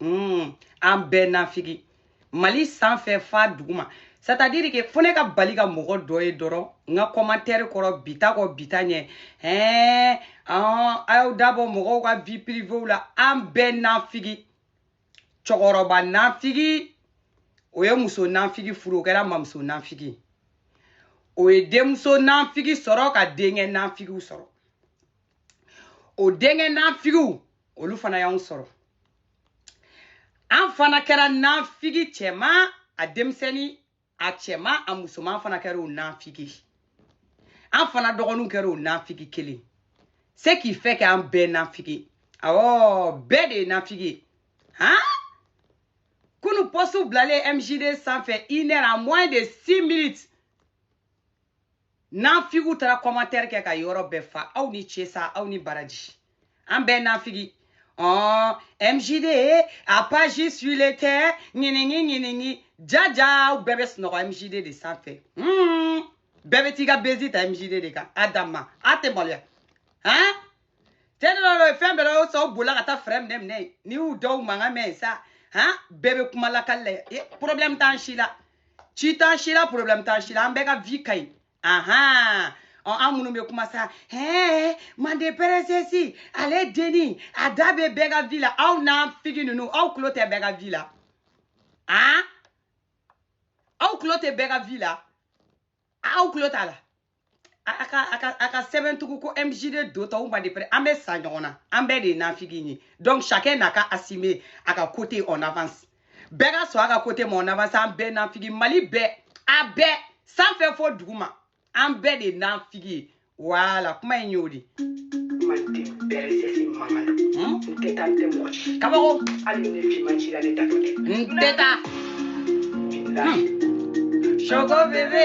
mm, an bɛɛ nafigi mali sanfɛ fa duguma c'est-à-dire que fo ne ka bali ka mɔgɔ dɔ ye dɔrɔn n ka commentaire kɔrɔ bi taa kɔ bi taa ɲɛ ɛɛ a y'aw da bɔ mɔgɔw ka vie privéew la an bɛɛ nafigi cɛkɔrɔba nafigi o ye muso nafigi furu o kɛra mamuso nafigi o ye denmuso nafigi sɔrɔ ka denkɛ nafigiw sɔrɔ o denkɛ nafigiw olu fana y'anw sɔrɔ an fana kɛra nafigi cɛma a denmisɛnni a cɛma a musoman an fana kɛra o nafigi an fana dɔgɔninw kɛra o nafigi kelen ce qui fait que an bɛɛ nafigi awɔ bɛɛ de ye nafigi ye han kunu post bilalen mjd sanfɛ une heure à moins de six minutes nafigiw taara commentaire kɛ ka yɔrɔ bɛɛ fa aw ni ce sa aw ni baraji an bɛɛ nafigi ɔn mjd a page suile tɛ ɲiningi ɲiningi jaja aw bɛɛ bɛ sunɔgɔ mjd de sanfɛ hmm. bɛɛ bɛ t'i ka bezi ta mjd de kan a danma a tɛ maloya han tɛ ne dɔ fɛn bɛɛ la o sɔn bolila ka taa fɛɛrɛ minɛ minɛ n'i y'u dɔw mankan mɛn sa han bɛɛ bɛ kuma lakali la ye problème t'an si la si t'an si la problème t'an si la an bɛɛ ka vie ka ɲi ahan ɔ an minnu bɛ kuma sa hɛɛ mande princesse ale denni a da bɛ bɛɛ ka vie la aw nafigi ninnu aw tulo tɛ bɛɛ ka vie la han aw tulo tɛ bɛɛ ka vie la. aw tulo t'a la a ka a ka a ka sɛbɛn tugun ko mjd do tɔw mande pere an bɛ sa ɲɔgɔn na an bɛɛ de ye nafigi ye donc chacun n'a qu'à assumer a ka côté en avance bɛɛ ka sɔn a ka côté ma en avance an bɛɛ nafigi mali bɛɛ a bɛɛ sanfɛ fo duguma an bɛɛ de nafigi ye voilà kuma in y'o de kabako n tɛ taa soko bebe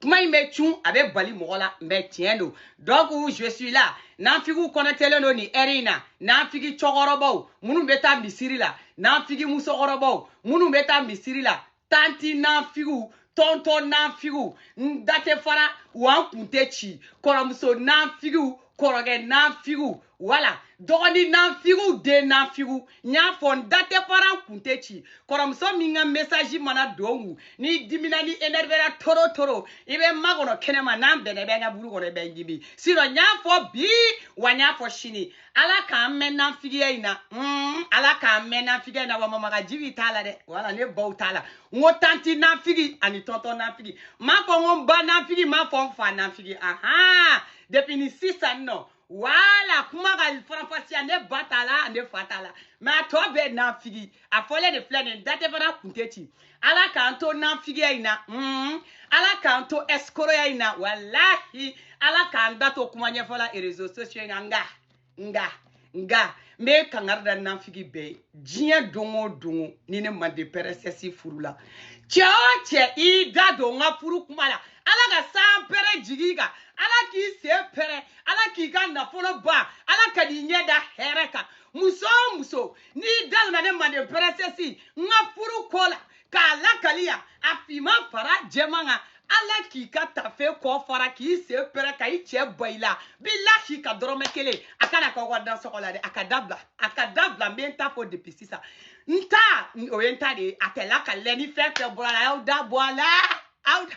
kuma in bɛ cun a bɛ bali mɔgɔ la mais tiɲɛ don donc je suis là nafigiw connectélen don nin heure in na nafigi cɛkɔrɔbaw minnu bɛ taa misiri la nafigi musokɔrɔbaw minnu bɛ taa misiri la tanti nafigiw tɔntɔn nafigiw n da tɛ fara wa n kun tɛ ci kɔrɔmuso nafigiw kɔrɔkɛ nanfigiw voilà dɔgɔni nanfigiw den nanfigiw n y'a fɔ n da tɛ fara n kun tɛ ci kɔrɔmuso min ka message mana don n kun n'i dimina n'i énervéra trop trop i bɛ n makɔnɔ kɛnɛma n'an bɛn kaburu kɔnɔ i bɛ n dimi sinon n y'a fɔ bi wa n y'a fɔ sini ala k'an mɛn nanfigiya in na mm, ala k'an mɛn nanfigiya in na wa mamagaji b'i t'a la dɛ voilà ne baw t'a la n ko tanti nanfigi ani tɔntɔn nanfigi n m'a fɔ n ko n ba nanfigi n m'a fɔ n fa nanfigi ahan depuis ni sisan nɔ wala kuma ka faranfasiya ne ba t'a la ne fa t'a la mais a tɔ bɛɛ nafigi a fɔlen de filɛ nin da tɛ fana kun tɛ ci ala k'an to nafigiya in na mm. ala k'an to ɛsikoroya in na walahi ala k'an da to kuma ɲɛfɔla réseaux sociaux in na nka nga nga n bɛ kangari da nafigi bɛɛ ye diɲɛ don o don ni ne mande princesse furu la cɛ o cɛ i da don n ka furu kuma la ala ka sanpɛrɛn jigi i kan ala k'i sen pɛrɛn ala k'i ka nafolo ban ala kan'i ɲɛ da hɛrɛ kan muso o muso n'i da donna ne mande princesse n ka furu ko la k'a lakali yan a finman fara jɛman kan ala k'i ka tafe kɔ fara k'i sen pɛrɛn ka i cɛ bɔ i la bilahi ka dɔrɔmɛ kelen a kana k'aw ka dansɔgɔ la dɛ a k'a dabila a k'a dabila n bɛ n ta fɔ depuis sisan n ta o ye n ta de ye a tɛ lakali ni fɛn fɛn bɔra a la aw da bɔ a la aw da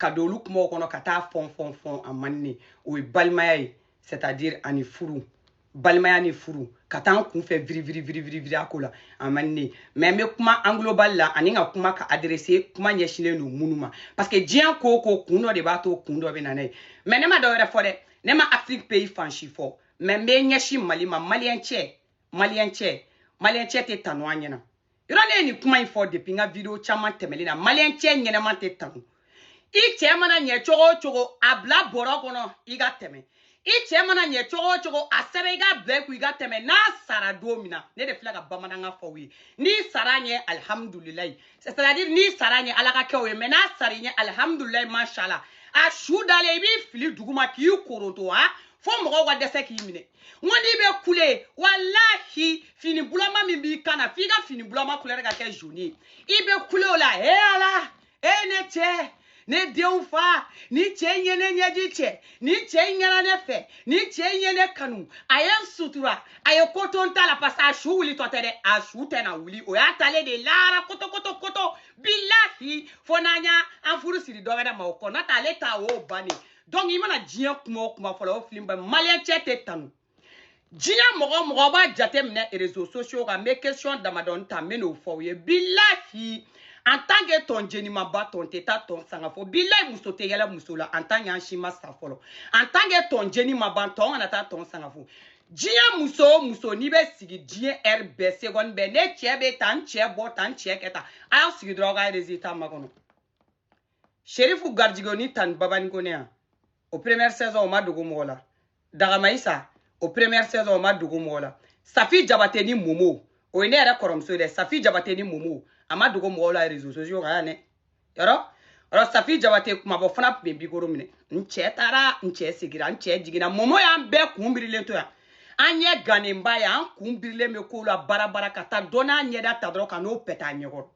ka don olu kumaw kɔnɔ ka taa fɔn fɔn fɔn a man ɲi o ye balimaya ye c'est à dire ani furu balimaya ni furu ka taa n kunfɛ viriviriviriviriya ko la a man ɲi mais n bɛ kuma en global la ani n ka kuma ka adresser kuma ɲɛsinnen don minnu ma parce que diɲɛ ko o ko kun dɔ de b'a to kun dɔ bɛ na n'a ye mais ne ma dɔ wɛrɛ fɔ dɛ ne ma afiriki pays fan si fɔ mais n bɛ ɲɛsin mali ma maliyɛn cɛ maliyɛn cɛ maliyɛn cɛ tɛ tanu an ɲɛna yɔrɔ ne ye nin kuma in fɔ depuis n ka video caman tɛmɛlen na maliyɛn cɛ ɲɛnama tɛ tanu i cɛ mana ɲɛ cogo o cogo a bila bɔrɔ kɔnɔ i ka tɛmɛ i cɛ mana ɲɛ cogo o cogo a sɛbɛn i k'a bila i kun i ka tɛmɛ n'a sara don min na ne de filɛ ka bamanankan fɔ aw ye n'i sara a ɲɛ alihamudulilayi c'est à dire n'i sara a ɲɛ ala k'a kɛ o ye mais n'a sara i ɲɛ alihamudulilayi mashala a su dalen i b'i fili duguma k'i koronto wa fo mɔgɔw ka dɛsɛ k'i minɛ n ko n'i bɛ kule walahi fini bulama min b'i kan na f'i ka fini bulama couleur ka kɛ jaune ye i bɛ kule o la he ala e ne cɛ ne denw fa ni cɛ in ye ne ɲɛji cɛ ni cɛ in ɲɛna ne fɛ ni cɛ in ye ne kanu a ye n sutura a ye ko to n ta la parce que a su wulitɔ tɛ dɛ a su tɛna wuli o y'a taalen de ye lahara kotokoto koto bilahi fo n'an y'an furu siri dɔ wɛrɛ ma o kɔ n'o tɛ ale ta o y'o bannen donc i mana diɲɛ kuma o kuma fɔlɔ o fili ba maliyɛn cɛ tɛ tanu diɲɛ mɔgɔ o mɔgɔ b'a jate minɛ réseaux sociaux kan n bɛ question damadɔni ta n bɛ n'o fɔ aw ye bilahi en tant que tɔn jeni ma ban tɔn tɛ taa tɔn sanga fo bilahi muso tɛ yɛlɛ muso la en tant que an si ma sa fɔlɔ en tant que tɔn jeni ma ban tɔn kana taa tɔn sanga fo diɲɛ muso o muso n'i bɛ sigi diɲɛ heure bɛɛ seconde bɛɛ ne cɛ bɛ tan n cɛ bɔ tan n cɛ kɛ tan a y'aw sigi dɔrɔn aw ka résultat makɔnɔ sherifu gajigo ni tanti babani kone yan o première saison o ma dogo mɔgɔ la dagamayisa o première saison o ma dogo mɔgɔ la safi jabate ni momo o ye ne yɛrɛ kɔrɔmuso ye dɛ safi jabate ni momo a ma dogo mɔgɔw la réseau sociaux kan yan dɛ yɔrɔ yɔrɔ safi jabate kumabɔ fana tun bɛ mikoro minɛ n cɛ taara n cɛ sigira n cɛ jiginna momo y'an bɛɛ kun birilen to yan an ɲɛ gannenba ye an kun birilen bɛ kow la baara baara ka taa dɔ n'a ɲɛda ta dɔrɔn ka n'o pɛtɛ a ɲɛkɔrɔ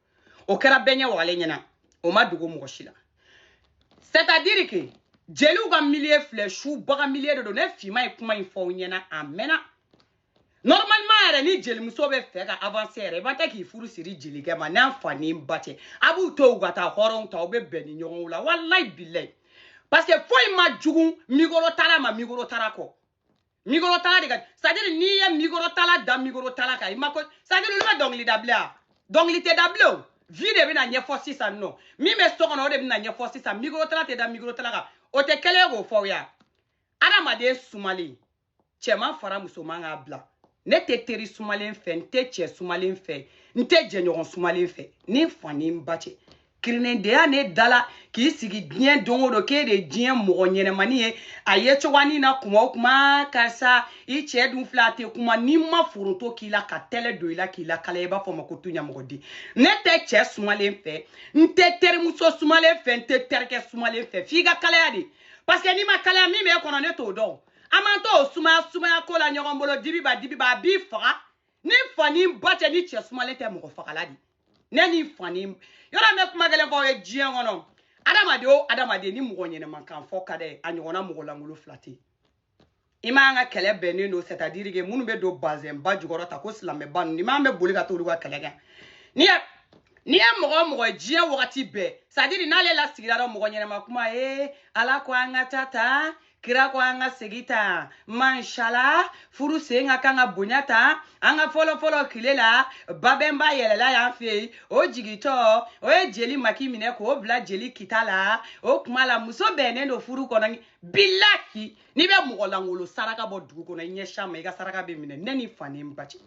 o kɛra bɛɛ ɲɛ wagalen ɲɛna o ma dogo mɔgɔ si la c'est à dire que jeliw ka milieu filɛ subaga milieu de don ne fima ye kuma in fɔ aw ɲɛna a mɛnna normalement yɛrɛ ni jelimuso bɛ fɛ ka avancer yɛrɛ i ba tɛ k'i furu siri jelikɛ ma n'a fa ni ba tɛ a b'u to u ka taa hɔrɔnw ta u bɛ bɛn ni ɲɔgɔnw la walayi bilayi parce que foyi man jugu mikorotala ma mikorotala kɔ mikɔrɔtala de ka c'est à dire n'i ye mikɔrɔtala da mikɔrɔtala kan i ma ko c'est à dire olu bɛ dɔnkili da bilen a dɔnkili tɛ da bilen o vie de bɛna ɲɛfɔ sisan nɔ min bɛ so kɔnɔ o de bɛna ɲɛfɔ sisan mikɔrɔtala tɛ da mikɔrɔtala kan o tɛ kɛlɛ ye k'o fɔ aw ye adamaden sumalen cɛman fara musoman k'a bila ne tɛ teri sumalen fɛ n tɛ cɛ sumalen fɛ n tɛ jɛɲɔgɔn sumalen fɛ ni n fa ni n ba cɛ kirinendeya ne dala k'i sigi diɲɛ don o don k'e de ye diɲɛ mɔgɔ ɲɛnamani ye a ye cogoyanin na kuma o kuma karisa i cɛ dun filɛ a tɛ kuma n'i ma foronto k'i la ka tɛlɛ don i la k'i lakala i b'a fɔ ma ko tu ɲamɔgɔden ne tɛ cɛ sumalen fɛ n tɛ terimuso sumalen fɛ n tɛ terikɛ sumalen fɛ f'i ka kalaya de parce que n'i ma kalaya min b'e kɔnɔ ne t'o dɔn an m'an to o sumaya sumaya ko la ɲɔgɔn bolo dibiba dibiba a b'i faga ni fa ni ba cɛ ni cɛ sumalen tɛ mɔgɔ fagala de ne ni fani yɔrɔ bɛ kuma gɛlɛn fɔ ye diɲɛ kɔnɔ adamaden o adamaden ni mɔgɔ ɲɛnama kan fɔ ka dɛ a ɲɔgɔnna mɔgɔ lankolon fila tɛ i m'an ka kɛlɛ bɛnnen don c'est à dire que minnu bɛ don bazɛnba jukɔrɔ ta ko silamɛba ninnu ni m'an bɛ boli ka t'olu ka kɛlɛ kɛ n'i ye n'i ye mɔgɔ mɔgɔ ye diɲɛ wagati bɛɛ c'est à dire n'ale lasigira dɔ mɔgɔ ɲɛnama kuma ye ala ko an ka taa ta kira ko an ka segin ta manshala furu sen ka kan ka bonya ta an ka fɔlɔfɔlɔ tile la babɛnba yɛlɛla y'an fɛ yen o jigitɔ o ye jeli maki minɛ k'o bila jeli kita la o kuma la muso bɛnnen don furu kɔnɔ bilahi n'i bɛ mɔgɔ lankolon saraka bɔ dugu kɔnɔ i ɲɛ s'a ma i ka saraka bɛ minɛ ne ni fa ni n ba cɛ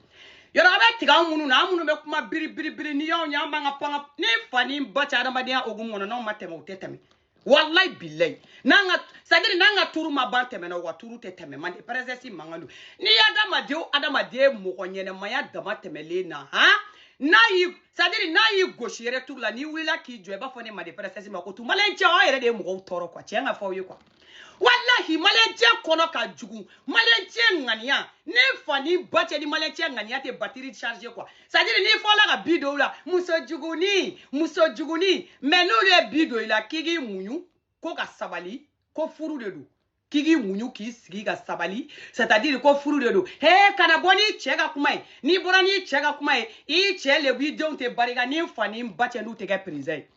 yɔrɔ a bɛ tigɛ anw minnu na an minnu bɛ kuma biribiribiri ni y'anw ye an b'an ka panga ni fa ni n ba cɛ adamadenya hokumu kɔnɔ n'anw ma tɛmɛ o tɛ tɛmɛ wallahi billahi n'an ka c'est à dire n'an ka turu ma ban tɛmɛna o ka turu tɛ tɛmɛ mande princesse mankan don n'i ye adamaden o adamaden mɔgɔ ɲɛnamaya dama tɛmɛlen na han n'a y'i c'est à dire n'a y'i gosi yɛrɛ turu la n'i wulila k'i jɔ i b'a fɔ ne mande princesse ma ko tu maliyɛn cɛ aw yɛrɛ de ye mɔgɔw tɔɔrɔ quoi tiɲɛ ka fɔ aw ye quoi walahi maliyɛn cɛ kɔnɔ ka jugu maliyɛn cɛ ŋaniya ne fa ni ba cɛ ni maliyɛn cɛ ŋaniya tɛ batterie charge quoi c'est à dire n'i fɔla ka bi don u la muso juguni muso juguni mais n'olu ye bi don i la k'i k'i muɲu ko ka sabali ko furu de don k'i k'i muɲu k'i sigi ka sabali c'est à dire ko furu de don he kana bɔ n'i cɛ ka kuma ye n'i bɔra n'i cɛ ka kuma ye i cɛ lebu i denw tɛ barika ni n fa ni n ba cɛ n'u tɛ kɛ président ye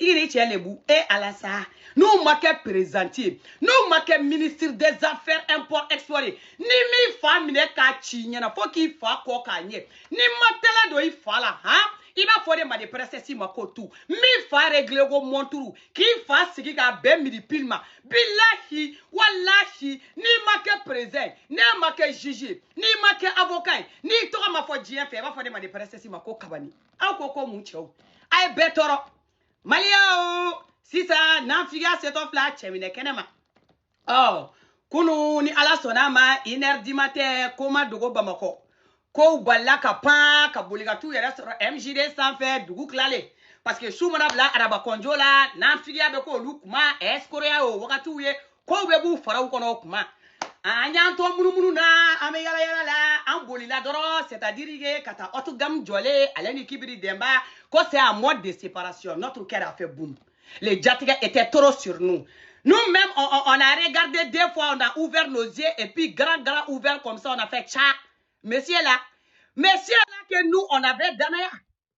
i k'i ni cɛ lebu e ala sa n'u ma kɛ président ye n'u ma kɛ ministre des affaires import export ye ni m'i fa minɛ k'a ci ɲɛna fo k'i fa kɔ k'a ɲɛ ni ma tɛlɛ don i fa la han i b'a fɔ de ma de princesse ma ko tu min fa réglé ko montre k'i fa sigi k'a bɛn midi pile ma bilahi walahi n'i ma kɛ président ye n'e ma kɛ juge ye n'i ma kɛ avocat ye n'i tɔgɔ ma fɔ diɲɛ fɛ i b'a fɔ de ma de princesse ma ko kabani aw ko ko mun cɛw a ye bɛɛ tɔɔrɔ maliyɛnw sisan nafigiya setɔ filɛ a cɛminɛ kɛnɛ ma ɔ kunu ni ala sɔnna ma une heure du matin ko ma dogo bamakɔ kow balila ka pan ka boli ka t'u yɛrɛ sɔrɔ mgd sanfɛ dugu tilalen parce que su mana bila arabakɔnjo la nafigiya bɛ k'olu kuma ɛsikoroya y'o wagatiw ye kow bɛɛ b'u faraw kɔnɔ o kuma an y'an to munumunu na an bɛ yala yala la an bolila dɔrɔn c'est à dire que ka taa haut de gamme jɔlen ale ni kibiri demba ko c'est un mode de séparation notre cœur a fait boum le jatigɛ était trop sur nous nous même on, on, on a regardé deux fois on a ouvert nos yeux et puis grand grand ouvert comme ça on a fait tcha monsieur là monsieur là que nous on avait danaya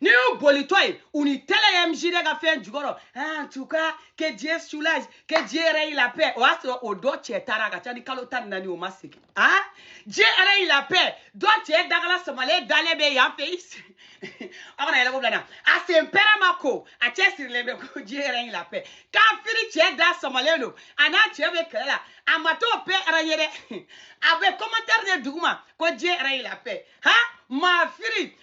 n'i y'u bolitɔ ye u ni tɛlɛ mgd ka fɛn jukɔrɔ en tout cas que dieu soulage que dieu règne la paix o y'a sɔrɔ o dɔ cɛ taara a ka ca ni kalo tan ni naani o ma segin a dieu règne la paix dɔ cɛ dagala samalen dalen bɛ yan fɛ a kana yɛlɛ ko bila na a sen pɛrɛ ma ko a cɛ sirilen bɛ ko dieu règne la paix kafiri cɛ da samalen don a n'a cɛ bɛ kɛlɛ la a ma t'o paix règne dɛ a bɛ commentaire de duguma ko dieu règne la paix han maa firi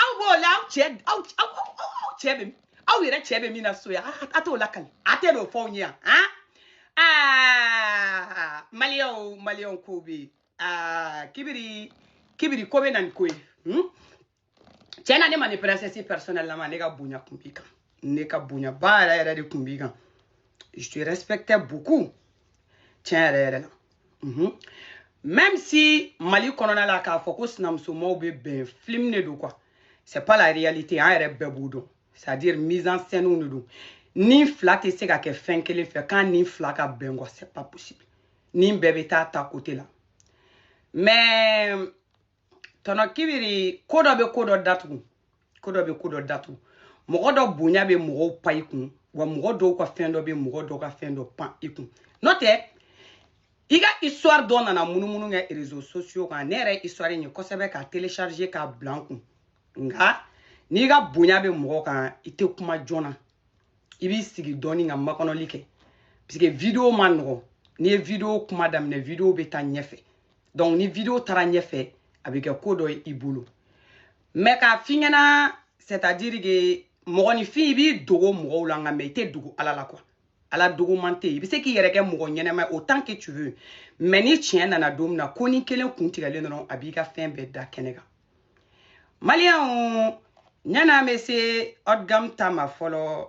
aw b'o la aw cɛ aw aw aw cɛ bɛ aw yɛrɛ cɛ bɛ min na so yan a t'o lakali a tɛ n'o fɔ aw ɲɛ yan han aa maliyɛnw maliyɛnw kow bɛ yen aa kibiri kibiri ko bɛ na ni ko ye hmm? tiɲɛ na ne ma ni princesse personnelle lama ne ka bonya tun b'i kan ne ka bonyaba yɛrɛ yɛrɛ de tun b'i kan je te respectais beaucoup tiɲɛ yɛrɛ yɛrɛ la Mhm. Même si Mali kɔnɔna la k'a fɔ ko sinamusomaw bɛ bɛn film de don quoi. C'est pas la réalité an yɛrɛ bɛɛ b'o dɔn. C'est à dire mise en scène de don. Ni fila tɛ se ka kɛ fɛn kelen fɛ k'a ni fila ka bɛn quoi c'est pas possible. Ni bɛɛ bɛ taa ta côté la. Mais tɔnɔ kibiri ko dɔ bɛ ko dɔ datugu ko dɔ bɛ ko dɔ datugu mɔgɔ dɔ bonya bɛ mɔgɔw pan i kun wa mɔgɔ dɔw ka fɛn dɔ bɛ mɔgɔ dɔw ka fɛn dɔ pan i kun n'o tɛ i ka histoire dɔ nana munumunu kɛ réseaux sociaux kan ne yɛrɛ histoire in ye kosɛbɛ ka télécharger k'a bila n kun nka n'i ka bonya bɛ mɔgɔ kan i tɛ kuma joona i b'i sigi dɔɔni ka makɔnɔli kɛ parce que video man nɔgɔn n'i ye video kuma daminɛ video bɛ taa ɲɛfɛ donc ni video taara ɲɛfɛ a bɛ kɛ ko dɔ ye i bolo mais k'a f'i ɲɛna c'est à dire que mɔgɔninfin i b'i dogo mɔgɔw la nka mais i tɛ dogo ala la quoi ala dogoman tɛ yen i bɛ se k'i yɛrɛ kɛ mɔgɔ ɲɛnɛma ye autant que tu veux mais ni tiɲɛ nana don min na ko ni kelen kun tigɛlen dɔrɔn a b'i ka fɛn bɛɛ da kɛnɛ kan maliyɛnw yann'an bɛ se haut de gamme ta ma fɔlɔ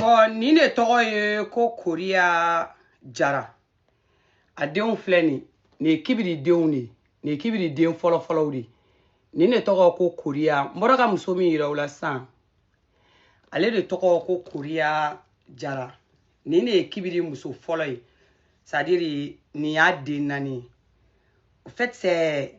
bɔn nin de tɔgɔ ye ko koriya jara a denw filɛ nin nin ye kibiri denw de nin ye kibiri den fɔlɔfɔlɔw de nin de tɔgɔ ko koriya n bɔra ka muso min yira aw la sisan ale de tɔgɔ ko koriya jara nin de ye kibiri muso fɔlɔ ye c'est à dire nin y'a den naani au fait c'est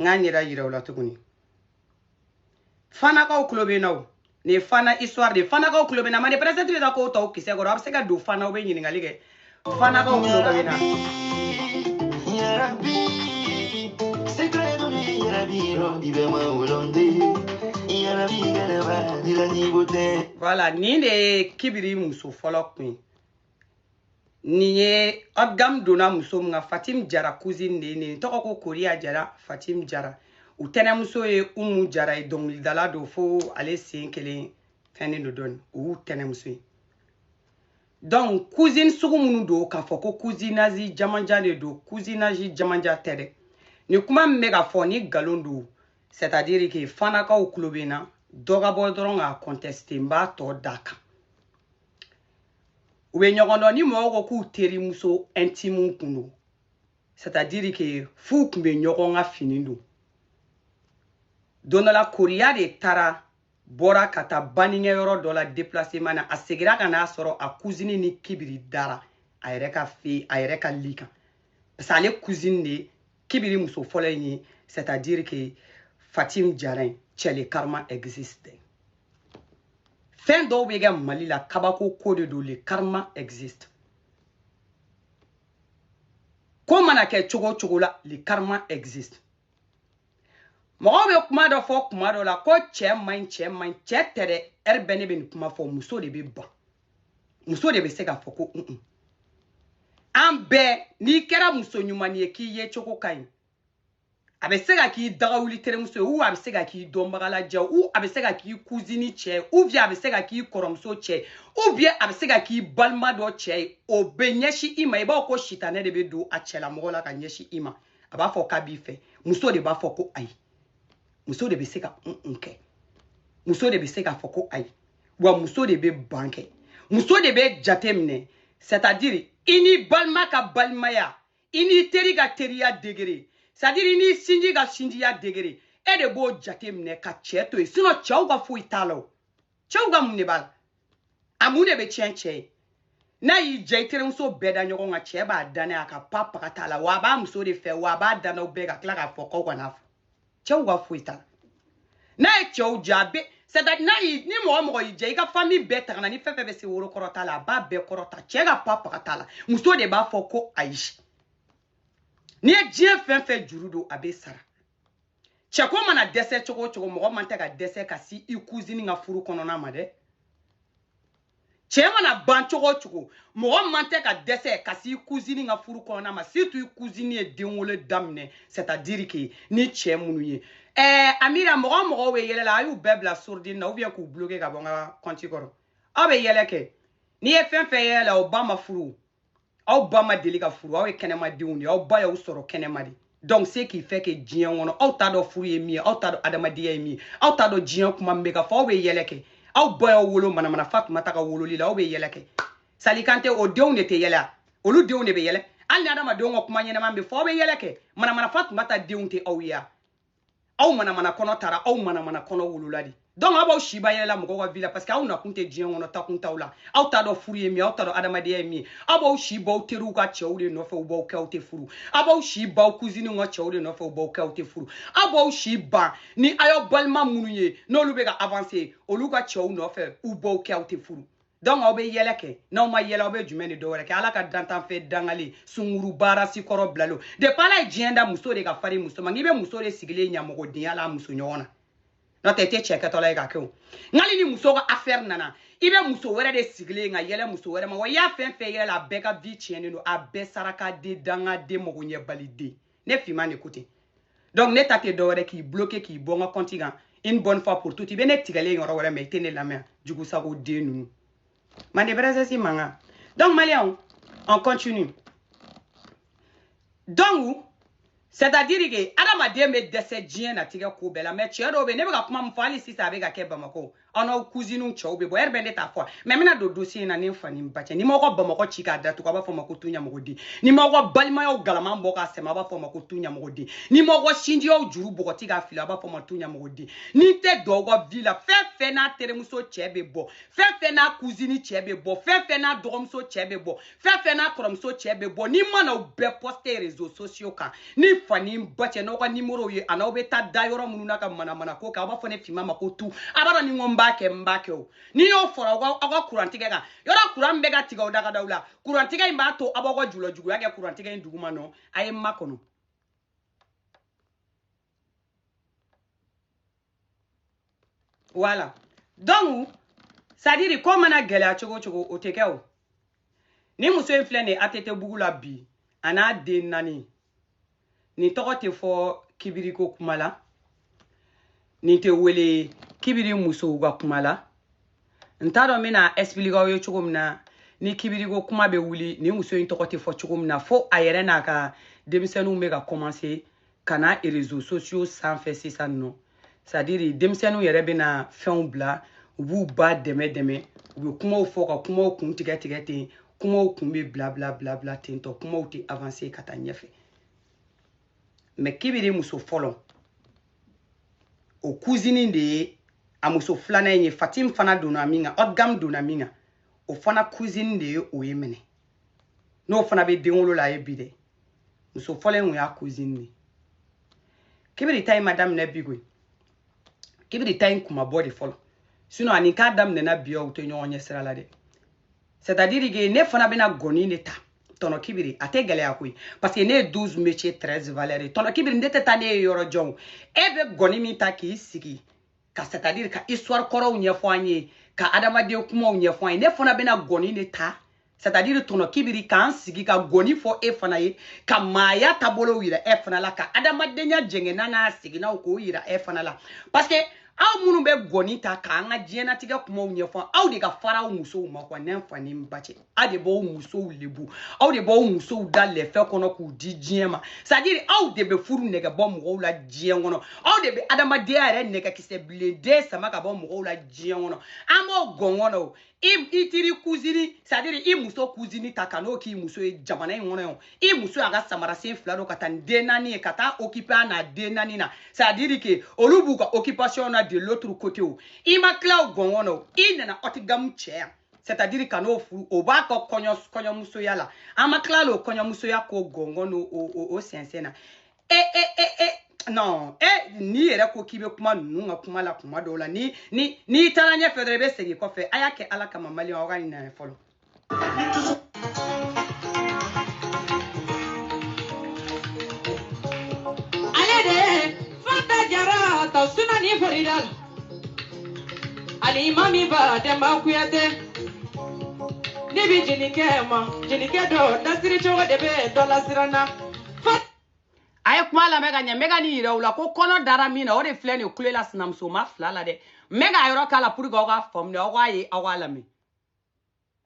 n k'a ɲɛda yira aw la tuguni fanakaw tulo bɛ n na o nin ye fana histoire de ye fanakaw tulo bɛ n na mande present bɛ ka kow ta o kisɛ kɔrɔ a bɛ se ka don fana u bɛ ɲininkali kɛ fanakaw tulo bɛ n na. Voilà, nin de ye kibiri muso fɔlɔ kun ye. nin ye haut de gamme donna muso min kan fatim jara cousine de ye nin tɔgɔ ko koriya jara fatim jara u tɛnɛmuso ye umu jara ye dɔnkilidala don fo ale sen kelen fɛnnen don dɔɔni o y'u tɛnɛmuso ye donc cousine sugu minnu don k'a fɔ ko cousinage jamanja de don cousinage jamanja tɛ dɛ nin kuma min bɛ ka fɔ ni nkalon don c'est à dire que fanakaw tulo bɛ n na dɔ ka bɔ dɔrɔn k'a contester n b'a tɔ d'a kan u bɛ ɲɔgɔn dɔn ni mɔgɔw ko k'u terimuso intime kun don c'est à dire que f'u kun bɛ ɲɔgɔn ka fini don don dɔ la koriya de taara bɔra ka taa baninkɛ yɔrɔ dɔ la déplacement na a segira ka n'a sɔrɔ a cousine ni kibiri dara a yɛrɛ ka fɛn a yɛrɛ ka lit kan parce que ale cousine de kibiri muso fɔlɔ in ye c'est à dire que fatim jara in c'est le karma existe fɛn dɔw bɛ kɛ mali la kabako ko de don le karma existe ko mana kɛ cogo cogo la le karma existe mɔgɔw bɛ kuma dɔ fɔ kuma dɔ la ko cɛ man ɲi cɛ man ɲi cɛ tɛ dɛ heure bɛɛ ne bɛ nin kuma fɔ muso de bɛ ban muso de bɛ se k'a fɔ ko un un an bɛɛ n'i kɛra muso ɲuman ye k'i yecogo ka ɲi a bɛ se ka k'i dagawuli terimuso ye ou a bɛ se ka k'i dɔnbagalajɛ ou a bɛ se ka k'i cousine cɛ ye ou bien a bɛ se ka k'i kɔrɔmuso cɛ ye ou bien a bɛ se ka k'i balima dɔ cɛ ye o bɛ ɲɛsin i ma i b'a ko sitanɛ de bɛ don a cɛlamɔgɔ la ka ɲɛsin i ma a b'a fɔ k'a b'i fɛ muso de b'a fɔ ko ayi muso de bɛ se ka un un kɛ muso de bɛ se k'a fɔ ko ayi wa muso de bɛ ban kɛ muso de bɛ jate minɛ c'est à dire i ni balima ka balimaya i ni teri ka teriya degré c'est à dire i ni sinji ka sinjiya degré e de b'o jate minɛ ka cɛ to yen sinon cɛw ka foyi t'a la o cɛw ka mun de b'a la a mun de bɛ tiɲɛ cɛ ye n'a y'i diya i terimuso bɛɛ da ɲɔgɔn kan cɛ b'a da n'a ye a ka pa paga t'a la wa a b'a muso de fɛ wa a b'a da n'aw bɛɛ ka tila k'a fɔ k'aw kana fɔ cɛw ka foyi t'a la n'a ye cɛw diya a bɛ c'est à dire n'a y'i ni mɔgɔ mɔgɔ y'i jɛ i ka famille bɛɛ tangana ni fɛn fɛn bɛ se woro kɔrɔta la a b'a bɛɛ kɔrɔta cɛ ka pa paga t'a la muso de b'a fɔ ko ayi n'i ye diɲɛ fɛn fɛn juru don a bɛ sara cɛko mana dɛsɛ cogo o cogo mɔgɔ man tɛ ka dɛsɛ ka se i cousine ka furu kɔnɔna ma dɛ cɛ mana ban cogo o cogo mɔgɔ man tɛ ka dɛsɛ ka se i cousine ka furu kɔnɔna ma surtout i cousine ye denwolo daminɛ c'est à dire que ni cɛ minnu ye ɛɛ amira mɔgɔ mɔgɔw bɛ yɛlɛ la a y'u bɛɛ bila sourdine na ou bien k'u bloquer ka bɔ n ka compte kɔrɔ aw bɛ yɛlɛ kɛ n'i ye fɛn fɛn yɛlɛ la o ba ma furu aw ba ma deli ka furu aw ye kɛnɛmadenw de ye aw ba y'aw sɔrɔ kɛnɛma de donc ce qui fait que diɲɛ kɔnɔ aw t'a dɔn furu ye min ye aw t'a dɔn adamadenya ye min ye aw t'a dɔn diɲɛ kuma min bɛ ka fɔ aw bɛ yɛlɛ kɛ aw ba y'aw wolo manamana fatumata ka wololi la aw bɛ yɛlɛ kɛ sali kantɛ o denw de tɛ yɛlɛ a olu denw de bɛ yɛlɛ hali ni adamadenw ka kuma ɲɛnama bɛ fɔ aw bɛ yɛlɛ kɛ manamana fatumata denw tɛ aw ye a aw manamana kɔnɔ tara aw manamana kɔnɔ wolola de donc aw b'aw si ban yɛlɛ la mɔgɔw ka vie la parce que aw nakun tɛ diɲɛ kɔnɔ taakun t'aw la aw t'a dɔn furu ye min aw t'a dɔn adamadenya ye min aw b'aw si ban aw teriw ka cɛw de nɔfɛ u b'aw kɛ aw tɛ furu aw b'aw si ban aw cousinew ka cɛw de nɔfɛ u b'aw kɛ aw tɛ furu aw b'aw si ban ni aw y'aw balima minnu ye n'olu bɛ ka avancer olu ka cɛw nɔfɛ u b'aw kɛ aw tɛ furu donc aw bɛ yɛlɛ kɛ n'aw ma yɛlɛ aw bɛ jumɛn de dɔwɛrɛ kɛ ala ka dantanfɛn dangalen sunguruba race kɔrɔ bilalenw depuis ala ye diɲɛ da muso de ka fari muso ma n'i bɛ muso de sigilen ɲamɔgɔdenya la muso ɲɔgɔn na n'o tɛ i tɛ cɛ kɛtɔla ye ka kɛ o nkali ni muso ka affaire nana i bɛ muso wɛrɛ de sigilen ka yɛlɛ muso wɛrɛ ma wa i y'a fɛn fɛn yɛlɛ a bɛɛ ka vie tiɲɛnen don a bɛɛ sarakaden dangaden magoɲɛbaliden ne fiman de ko ten donc ne ta tɛ dɔwɛrɛ k'i bloquer k'i bɔ n ka compte kan une bonne fois pour toutes i bɛ ne tigɛlen yɔrɔ wɛrɛ mais i tɛ ne lamɛn jugu sago den ninnu mande princesse mankan donc maliyɛnw on continue donc c'est à dire que adamaden bɛ dɛsɛ diɲɛnatigɛ ko bɛɛ la mais cɛ dɔw bɛ ne bɛ ka kuma min fɔ hali sisan a bɛ ka kɛ bamakɔ aw n'aw kuziniw cɛw bɛ bɔ ɛri bɛ ne t'a fɔ mɛ n bɛna don dosiye in na ne fa ni n ba cɛ ni n m'aw ka bamakɔ ci k'a datugu a b'a fɔ n ma ko tu ɲamɔgɔden ni n m'aw ka balimayaw galama bɔ k'a sɛmɛ a b'a fɔ n ma ko tu ɲamɔgɔden ni n m'aw ka sinjiyaw juru bɔgɔti k'a fili a b'a fɔ n ma tu ɲamɔgɔden ni n tɛ don aw ka vi la fɛn fɛn n'a terimuso cɛ bɛ bɔ fɛn fɛn n'a kuzini cɛ bɛ bɔ fɛn fɛn n'a dɔgɔmuso cɛ bɛ bɔ fɛn fɛn n'a kɔrɔmuso cɛ bɛ bɔ ni n ma na u bɛɛ pɔsite rezo sosiyo kan ne fa ni n ba cɛ n'aw ka nimɔrɔw ye an'aw bɛ taa da yɔrɔ minnu na ka manamana ko kɛ aw b'a fɔ ne finma ma ko tu a b'a dɔn ni n ko n b'a kɛ n b'a kɛ o n'i y'o fɔra aw ka aw ka kurantigɛ kan yɔrɔ kuran bɛ ka tigɛ aw dagadaw la kurantigɛ in b'a to aw b'aw ka julɔjuguya kɛ kurantigɛ in duguma nɔ a ye n makɔnɔ wala donc sadiri ko mana gɛlɛya cogo cogo o tɛ kɛ o ni muso in filɛ nin ye atetebugu la bi a n'a den naani nin tɔgɔ tɛ fɔ kibiriko kuma la nin tɛ wele kibiri musow ka kuma la n t'a dɔn n bɛna expliquer aw ye cogo min na ni kibiriko kuma bɛ wuli nin muso in tɔgɔ tɛ fɔ cogo min na fo a yɛrɛ n'a ka denmisɛnninw bɛ ka commencer ka na rezo sosiyo sanfɛ sisan nɔ sadiri denmisɛnninw yɛrɛ bɛna fɛnw bila u b'u ba dɛmɛ dɛmɛ u bɛ kumaw fɔ ka kumaw kun tigɛ tigɛ ten kumaw kun bɛ bila bila bila bila ten tɔ kumaw tɛ avanse ka taa ɲɛfɛ mɛ kibiri muso fɔlɔ o kuzini de ye a muso filanan in ye fatim fana donna min kan odgam donna min kan o fana kuzini de ye o ye minɛ n'o fana bɛ den wolo la a ye bi dɛ muso fɔlɔ in y'a cousine de kibiri ta in ma daminɛ bi koyi kibiri ta in kun ma bɔ de fɔlɔ sinon ani k'a daminɛna bi o tɛ ɲɔgɔn ye sira la dɛ c'est à dire que ne fana bɛna gɔni de ta tɔnɔ kibiri a tɛ gɛlɛya koyi parce que ne ye 12 métiers 13 valeurs ye tɔnɔ kibiri ne tɛ taa n'e ye yɔrɔ jan e bɛ gɔni min ta k'i sigi ka c'est-à-dire ka histoire kɔrɔw ɲɛfɔ an ye ka adamaden kumaw ɲɛfɔ an ye ne fana bɛna gɔni de ta c'est-à-dire tɔnɔ kibiri k'an sigi ka gɔni fɔ e fana ye ka maaya taabolow yira e fana la ka adamadenya jɛngɛnna n'a seginnaw k'o yira e fana la parce que aw minnu bɛ gɔni ta k'an ka diɲɛnatigɛ kumaw ɲɛfɔ aw de ka farin aw musow ma quoi n'an fa ni n ba cɛ aw de b'aw musow lebu aw de b'aw musow da lɛfɛ kɔnɔ k'u di diɲɛ ma sadiri aw de bɛ furu nɛgɛ bɔ mɔgɔw la diɲɛ kɔnɔ aw de bɛ adamadenya yɛrɛ nɛgɛkisɛ bilenden sama ka bɔ mɔgɔw la diɲɛ kɔnɔ an b'o gɔngɔn na o i i teri kuzini sadiri i muso kuzini ta ka n'o k'i muso ye jamana in kɔnɔ yan i muso y'a ka samarasen fila don ka taa ni den naani ye ka taa okipe a n'a den naani na sadiri ke olu b'u ka okipasiyɔn na de loturu kote i ma tila o gɔngɔn na o i nana ɔtigamu cɛ yan c'est à dire ka n'o furu o b'a ka kɔɲɔ kɔɲɔmusoya la an ma tila l'o kɔɲɔmusoya k'o gɔngɔn n'o o o o sɛnsɛn na e e e e non e n'i yɛrɛ ko k'i bɛ kuma ninnu ka kuma la kuma dɔw la ni ni n'i taara ɲɛfɛ dɔrɔn i bɛ segin kɔfɛ a y'a kɛ ala kama maliyɛnw aw ka nin lajɛ fɔlɔ. ale de ye fanta jara ta sunani florida la. alimami ba dɛmba kuyate ne bi jelikɛ ma jelikɛ dɔ dasiri cogo de bɛ dɔ lasiran na a ye kuma lamɛn ka ɲɛ n bɛ ka nin yira aw la ko kɔnɔ dara min na o de filɛ nin ye kule la sinamuso ma fila la dɛ n bɛ k'a yɔrɔ k'a la pour que aw k'a faamu de aw k'a ye aw k'a lamɛn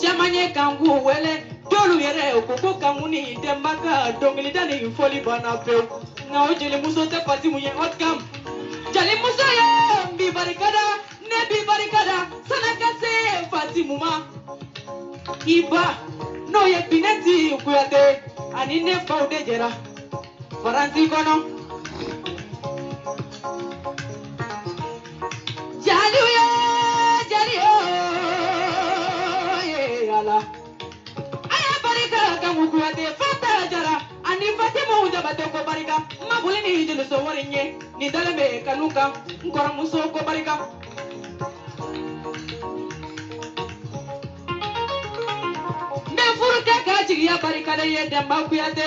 caman ye kanku wele dɔlu yɛrɛ u ko ko kanku ni denba ka dɔnkilida ni fɔli banna pewu nka o jelimuso tɛ fatimu ye haute gamme jelimuso ye n b'i barika da ne b'i barika da sani ka se fatimu ma i ba n'o ye binɛti kuyate ani ne faw de jɛra faransi kɔnɔ. Jaliw ye jali ye ala a y'a barika kanku kuyate fanta jara ani fatimu jabate ko barika ma boli ni jeliso wari ɲɛ nin dalen bɛ kanu kan n kɔrɔmuso ko barika n bɛ furukɛ ka jigiya barika d'i ye dɛnba kuyate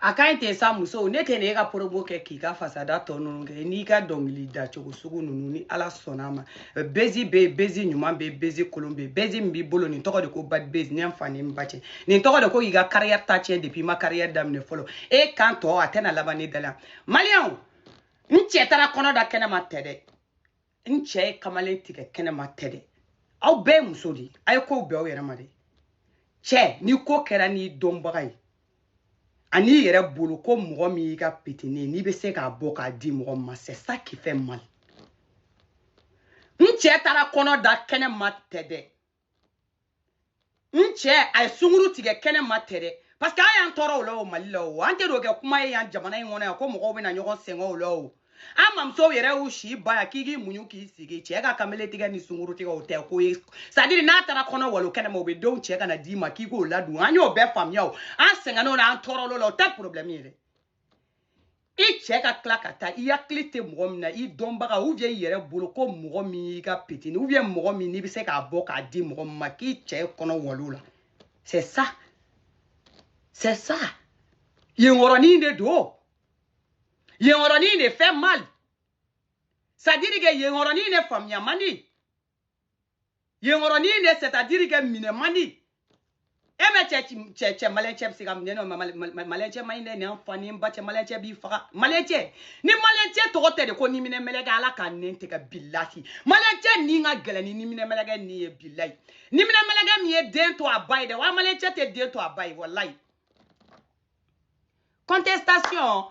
a ka ɲi ten sa muso ne tɛna e ka promo kɛ k'i ka fasada tɔ ninnu kɛ n'i ka dɔnkili dacogo sugu ninnu ni ala sɔnna a ma buzz bɛ yen buzz ɲuman bɛ yen buzz kolon bɛ yen buzz min b'i bolo nin tɔgɔ de ko bad buzz ne fa ni n ba cɛ nin tɔgɔ de ko k'i ka kariyɛri ta tiɲɛ depuis i ma kariyɛri daminɛ fɔlɔ e kan tɔ a tɛna laban ne da la maliyɛnw n cɛ taara kɔnɔ da kɛnɛ ma tɛ dɛ n cɛ ye kamalen tigɛ kɛnɛma tɛ dɛ aw bɛɛ ye muso de ye a ye kow bɛn aw yɛrɛ ma dɛ cɛ ni ko kɛra n'i dɔnbaga ye ani i yɛrɛ bolo ko mɔgɔ min i ka petini n'i bɛ se k'a bɔ k'a di mɔgɔ ma c'est ça qui fait mal n cɛ taara kɔnɔ da kɛnɛ ma tɛ dɛ n cɛ a ye sunkuru tigɛ kɛnɛ ma tɛ dɛ parce que an y'an tɔɔrɔ o la o mali la o an tɛ n'o kɛ kuma ye yan jamana in kɔnɔ yan ko mɔgɔw bɛna ɲɔgɔn sɛgɛn o la o an mamusow yɛrɛ y'u si ban yan k'i k'i muɲu k'i sigi cɛ ka kamele tigɛ ni sunkuru tigɛ o tɛ ko ye c'est à dire n'a taara kɔnɔ walon kɛnɛ ma o bɛ denw cɛ ka na d'i ma k'i k'o ladon an y'o bɛɛ faamuya o an sɛgɛnna o la an tɔɔrɔl'o la o tɛ problème ye dɛ i cɛ ka tila ka taa i hakili tɛ mɔgɔ min na i dɔnbaga ou bien i yɛrɛ bolo ko mɔgɔ min i ka petini ou bien mɔgɔ min n'i bɛ se k'a bɔ k'a di mɔgɔ min ma k'i cɛ ye kɔnɔ walon o la c'est ça c'est ça yenkɔrɔnin de don yenkɔrɔnin de fait mal c'est à dire que yenkɔrɔnin de faamuya man di. yenkɔrɔnin de c'est à dire que minɛ man di e bɛ cɛ cɛ cɛ maliyɛn cɛ bɛ se ka minɛ nɔ maliyɛn cɛ man ɲi dɛ n ni n fa ni n ba cɛ maliyɛn cɛ b'i faga maliyɛn cɛ ni maliyɛn cɛ tɔgɔ tɛ de ko ni minɛ mɛlɛkɛ ala ka n nɛn tigɛ bilayi maliyɛn cɛ ni ka gɛlɛn ni ni minɛ mɛlɛkɛ ni ye bilayi ni minɛ mɛlɛkɛ min ye den to a ba ye dɛ wa maliyɛn cɛ tɛ den to a ba ye walayi contestation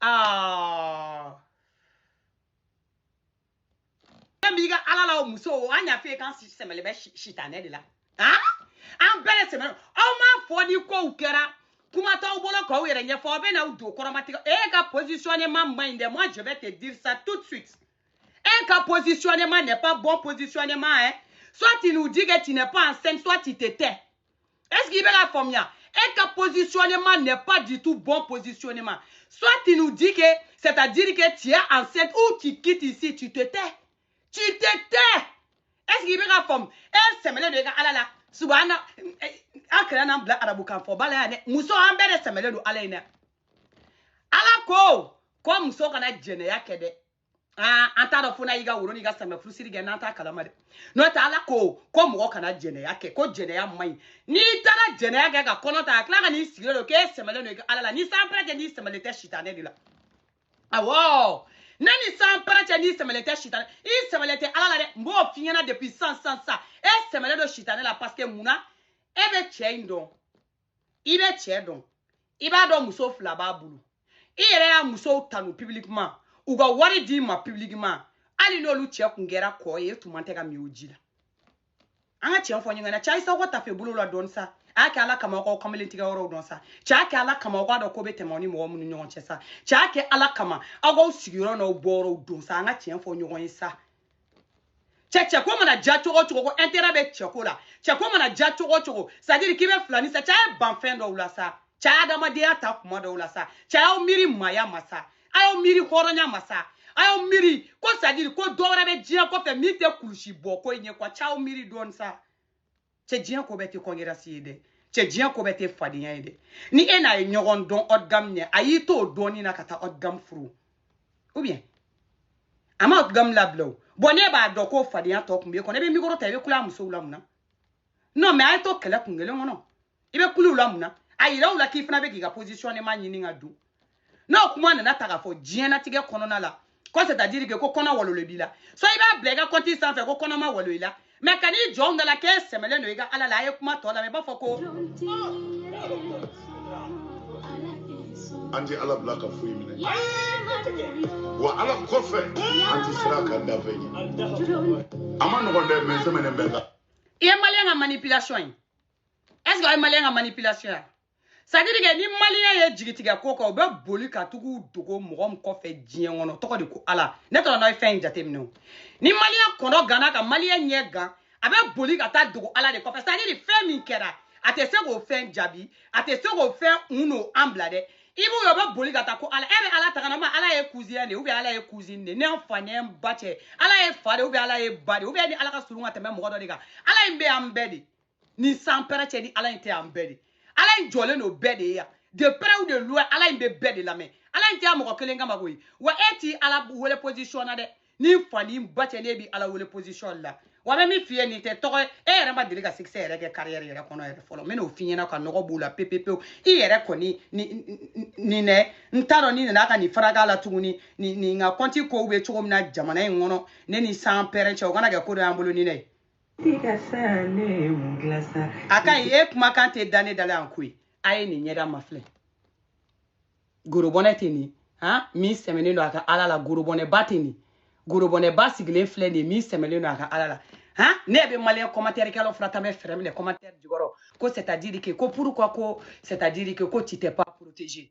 Ah. Fɛn b'i ka ala la o muso o an y'a f'i ye k'an sɛmɛlen bɛ sitanɛ de la han an bɛɛ de sɛmɛlen aw m'a fɔ ni kow kɛra kuma t'aw bolo k'aw yɛrɛ ɲɛfɔ aw bɛ n'aw don kɔrɔmatigɛ e ka positionnement man ɲi dɛ moi je vais te dire ça tout de suite e ka positionnement n'est pas bon positionnement hein soit tu nous dis que tu n'es pas enceinte soit tu te tais Est-ce que i bɛ k'a faamuya E ka positionnement n'est pas du tout bon positionnement. Soit tu nous dis que, c'est-à-dire que tu es enceinte ou tu quittes ici, tu te tais. Tu te tais. Est-ce que i bɛ k'a faamu E sɛmɛlen don e ka ala la. Subhana, eh, eh, an kira nan bila arabukan fɔ bala ya ne muso an bɛɛ de sɛmɛlen don ala in na ala ko ko muso kana jɛnɛya kɛ dɛ aa an t'a dɔn fo n'a y'i ka woro n'i ka samɛ furusiri kɛ n'an t'a kalama dɛ n'o tɛ ala ko ko mɔgɔ kana jɛnɛya kɛ ko jɛnɛya man ɲi n'i taara jɛnɛya kɛ ka kɔnɔ ta ka tila ka n'i sigilen don k'e sɛmɛlen don ala la n ni sanpɛrɛn cɛ n'i sɛmɛlen tɛ sitanɛ de la awɔ ne ni sanpɛrɛn cɛ n'i sɛmɛlen tɛ sitanɛ i sɛmɛlen tɛ ala la dɛ n b'o f'i ɲɛna depuis sisan e sɛmɛlen don sitanɛ la parce que mun na e bɛ cɛ in dɔn i bɛ cɛ dɔn i b'a dɔn muso fila b'a bolo i yɛrɛ y'a musow tanu publiquement u ka wari d'i ma publiquement hali n'olu cɛ kun kɛra kɔ ye e tun man kan ka min o ji la an ka tiɲɛ fɔ ɲɔgɔn na cɛ a ye s'aw ka tafe bolo la dɔɔni sa a y'a kɛ ala kama aw k'aw kamalen tigɛ yɔrɔw dɔn sa cɛ a y'a kɛ ala kama aw k'a dɔn ko bɛ tɛmɛ aw ni mɔgɔ minnu ɲɔgɔn cɛ sa cɛ a y'a kɛ ala kama aw k'aw sigiyɔrɔ n'aw bɔyɔrɔw dɔn sa an ka tiɲɛ fɔ ɲɔgɔn ye sa cɛ cɛko mana diya cogo o cogo ko intérêt bɛ cɛko la cɛko mana diya cogo o cogo c'est à dire k'i bɛ filani sa cɛ a ye ban fɛn dɔw la sa cɛ a y'adamadenya ta kuma dɔw la sa cɛ a y'aw miiri maaya ma sa a y'aw miiri hɔrɔnya ma sa a y'aw miiri ko c'est à dire ko dɔ wɛrɛ bɛ diɲɛ kɔfɛ min tɛ kulusi bɔ ko in ye quoi cɛ a y'aw miiri dɔɔni sa. cɛ diɲɛ ko bɛɛ tɛ concurrence ye dɛ cɛ diɲɛ ko bɛɛ tɛ fadenya ye dɛ ni e n'a ye ɲɔgɔn dɔn haut de gamme ɲɛ a y'i to o dɔnni na ka taa haut de gamme furu ou bien a ma haut de gamme labila o bon ne b'a dɔn k'o fadenya tɔ tun b'e kɔnɔ i bɛ mikoro ta i bɛ kule a musow la mun na non mais a ye to kɛlɛ kun kelen kɔnɔ i bɛ kule u la mun na a yira u la k'i fana bɛ k'i ka positionnement ɲini k'a dɔn non kuma nana taa k'a fɔ diɲɛnatigɛ kɔnɔna la ko c'est à dire que ko kɔnɔ walolen b'i la so i b'a bila i ka kɔnti sanfɛ ko kɔnɔ ma walo i la mais ka n'i jɔ an da la k'e sɛmɛlen don i ka ala la a ye kuma tɔ lamɛn i b'a fɔ ko an tɛ ala bila ka foyi minɛ wa ala kɔfɛ an tɛ siran a ka danfɛn ɲɛ a man nɔgɔn dɛ mɛ sɛmɛnen bɛ kan i ye maliyɛn ka manipulation ye est ce que aw ye maliyɛn ka manipulation ye c'est à dire que ni maliyɛn ye jigi tigɛ ko kan u bɛ boli ka tag'u dogo mɔgɔ min kɔfɛ diɲɛ kɔnɔ tɔgɔ de ko ala ne tɔgɔ n'a ye fɛn in jateminɛ o ni maliyɛn kɔnɔ ganna ka maliyɛn ɲɛ gan a bɛ boli ka taa dogo ala de kɔfɛ c'est à dire fɛn min kɛra a tɛ se k'o fɛn jaabi a tɛ se k'o fɛn hun non an bila dɛ i b'u ye u bɛ boli ka taa ko ala e bɛ ala ta ka na n ma ala y'i cousin ye de ou bien ala y'i cousine de n'i fa n'i ba cɛ ala y'i fa de ou bien ala y'i ba de ou bien ni ala ka surun ka tɛmɛ mɔgɔ dɔ de kan ala in bɛ an bɛɛ de ni sans père cɛ ni ala in tɛ an bɛɛ de ala in jɔlen don bɛɛ de ye yan de près ou de loin ala in bɛ bɛɛ de lamɛn ala in tɛ yan mɔgɔ kelen kama koyi wa e t'i ala wele position na dɛ n'i fa n'i ba cɛ ne b'i ala wele position la wa n bɛ min f'i ye nin tɛ tɔgɔ ye e yɛrɛ ma deli ka succès yɛrɛ kɛ carrière yɛrɛ kɔnɔ yɛrɛ fɔlɔ n bɛn'o f'i ɲɛna ka nɔgɔ b'o la pepepewu i yɛrɛ kɔni nin dɛ n t'a dɔn ni nana ka nin faraka la tuguni nin ka kɔnti kow bɛ cogo min na jamana in kɔnɔ ne ni sans père cɛ o kana kɛ ko dɔ y'an bolo ni ne ye a ka ɲi e kumakan tɛ da ne da la yan koyi a ye nin ɲɛda mafilɛ gorobɔnɛ tɛ nin han min sɛmɛnen don a ka ala la gorobɔnɛba tɛ nin gorobɔnɛba sigilen filɛ nin ye min sɛmɛlen don a ka ala la han ne bɛ maliyɛn commentaire kɛlaw fana ta bɛ fɛɛrɛ minɛ commentaire jukɔrɔ ko c'est à dire que ko pourquoi ko c'est à dire que ko tu t'es pas protégé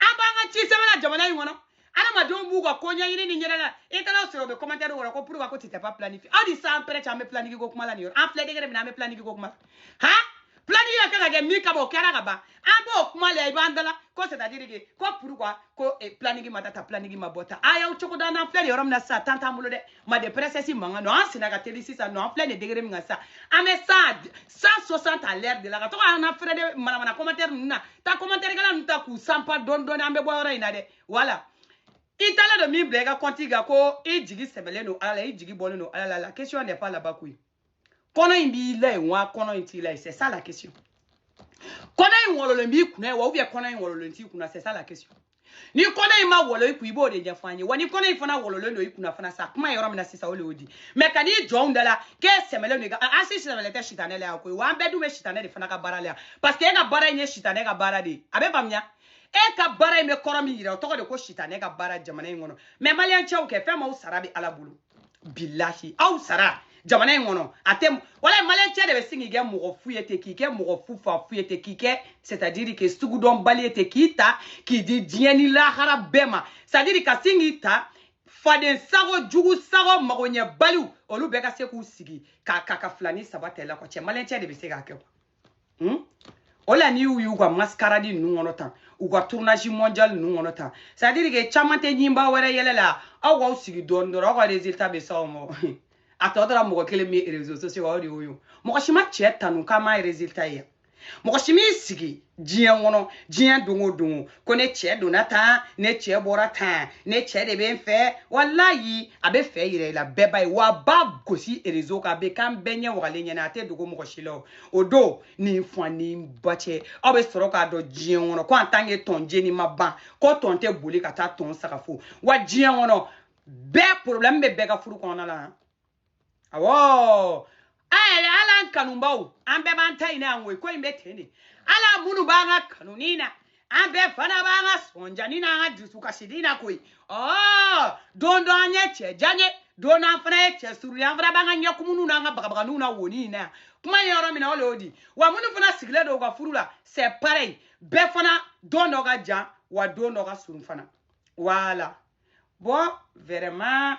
an b'an ka ci sɛbɛn la jamana in kɔnɔ adamadenw b'u ka ko ɲɛɲini ni ɲɛda la i taara sɔrɔ u bɛ commentaire kɔrɔ ko pourquoi ko tu t'es pas planifié aw ni sans père cɛ an bɛ planifié ko kuma la nin yɔrɔ an filɛ degré min na an bɛ planifié ko kuma ha planifié ka kan ka kɛ min kama o kɛra ka ban an b'o kuma la i b'an dala ko c'est à dire que ko pourquoi ko planifié ma ta ta planifié ma bɔ ta a y'aw cogo da n'an filɛ nin yɔrɔ min na sisan temps t'an bolo dɛ made princesse mankan don an sina ka teli sisan non an filɛ nin degré min kan sisan an bɛ sa 160 à l'heure de la ka to an na fɛrɛ de manamana commentaire ninnu na taa commentaire kɛla ninnu ta k'u sanpa dɔɔni dɔɔni an bɛ bɔ yɔrɔ in na dɛ voilà i taalen don min bila i ka compte kan ko i jigi sɛmɛlen don ala la i jigi bɔlen don ala la la question n'est pas là-bas koyi kɔnɔ in b'i la yen wa kɔnɔ in t'i la yen c'est ça la question kɔnɔ in wɔlɔlen b'i kunna yen wa ou bien kɔnɔ in wɔlɔlen t'i kunna c'est ça la question ni kɔnɔ in ma wɔlɔ i kun i b'o de ɲɛfɔ an ye wa ni kɔnɔ in fana wɔlɔlen don i kunna fana sa kuma yɔrɔ min na sisan o le y'o di mais ka n'i jɔ an da la k'e sɛmɛlen don i ka an si sɛmɛlen tɛ sitanɛ la yan koyi wa an bɛɛ dun bɛ sitanɛ de fana ka baara la yan parce que e ka baara in ye sitanɛ ka baara de ye a bɛ faamuya e ka baara in bɛ kɔrɔ min yira o tɔgɔ de ko sitanɛ ka baara jamana in kɔnɔ mais maliyɛn cɛw kɛ fɛn m'aw sara bɛ ala bolo bilahi aw sara jamana in kɔnɔ a tɛ wala maliyɛn cɛ de bɛ sin k'i kɛ mɔgɔ fu ye ten k'i kɛ mɔgɔ fu fa fu ye ten k'i kɛ c'est à dire que sugudɔnbali ye ten k'i ta k'i di diɲɛ ni lahara bɛɛ ma c'est à dire ka sin k'i ta faden sago jugu sago magoɲɛbaliw olu bɛɛ ka se k'u sigi ka ka ka fila ni saba ta i la kɔ cɛ maliyɛn cɛ de bɛ se k'a kɛ quoi hmm? o la n'i y'u y'u ka mascarade ninnu kɔnɔ tan u ka tournage mondial ninnu kɔnɔ tan c'est à dire que caman tɛ ɲinba wɛrɛ yɛlɛ la aw k'aw sigi don dɔ aw ka résultat bɛ s'aw ma a tɔ tora mɔgɔ kelen min ye réseaux sociaux o de y'o ye mɔgɔ si ma cɛ tanu k'a m'a résultat ye mɔgɔ si m'i sigi diɲɛ kɔnɔ diɲɛ don o don ko ne cɛ donna tan ne cɛ bɔra tan ne cɛ de bɛ n fɛ walayi a bɛ fɛn yira i la bɛɛ b'a ye wa b'a gosi réseau kan a bɛ k'an bɛɛ ɲɛ wagalen ɲɛna a tɛ dogo mɔgɔ si la o o don nin fa ni ba cɛ aw bɛ sɔrɔ k'a dɔn diɲɛ kɔnɔ ko en tant que tɔn jeni ma ban ko tɔn tɛ boli ka taa tɔn sanga fo wa diɲɛ kɔnɔ bɛɛ problème bɛ bɛɛ ka furu kɔnɔna la awɔ an yɛrɛ ala an kanunbaw an bɛɛ b'an ta ɲini an ko ko in bɛ ten de an la minnu b'an ka kanuni na an bɛɛ fana b'an ka sɔnjani n'an ka dusukasini na koyi ɔɔ don dɔ an ye cɛ jan ye don an fana ye cɛ surun ye an fana b'an ka ɲɛkumuniw n'an ka bagabaganinw na woni in na yan kuma ye yɔrɔ min na o le y'o di wa minnu fana sigilen don u ka furu la c'est pareil bɛɛ fana don dɔ ka jan wa don dɔ ka surun fana voilà bon vraiment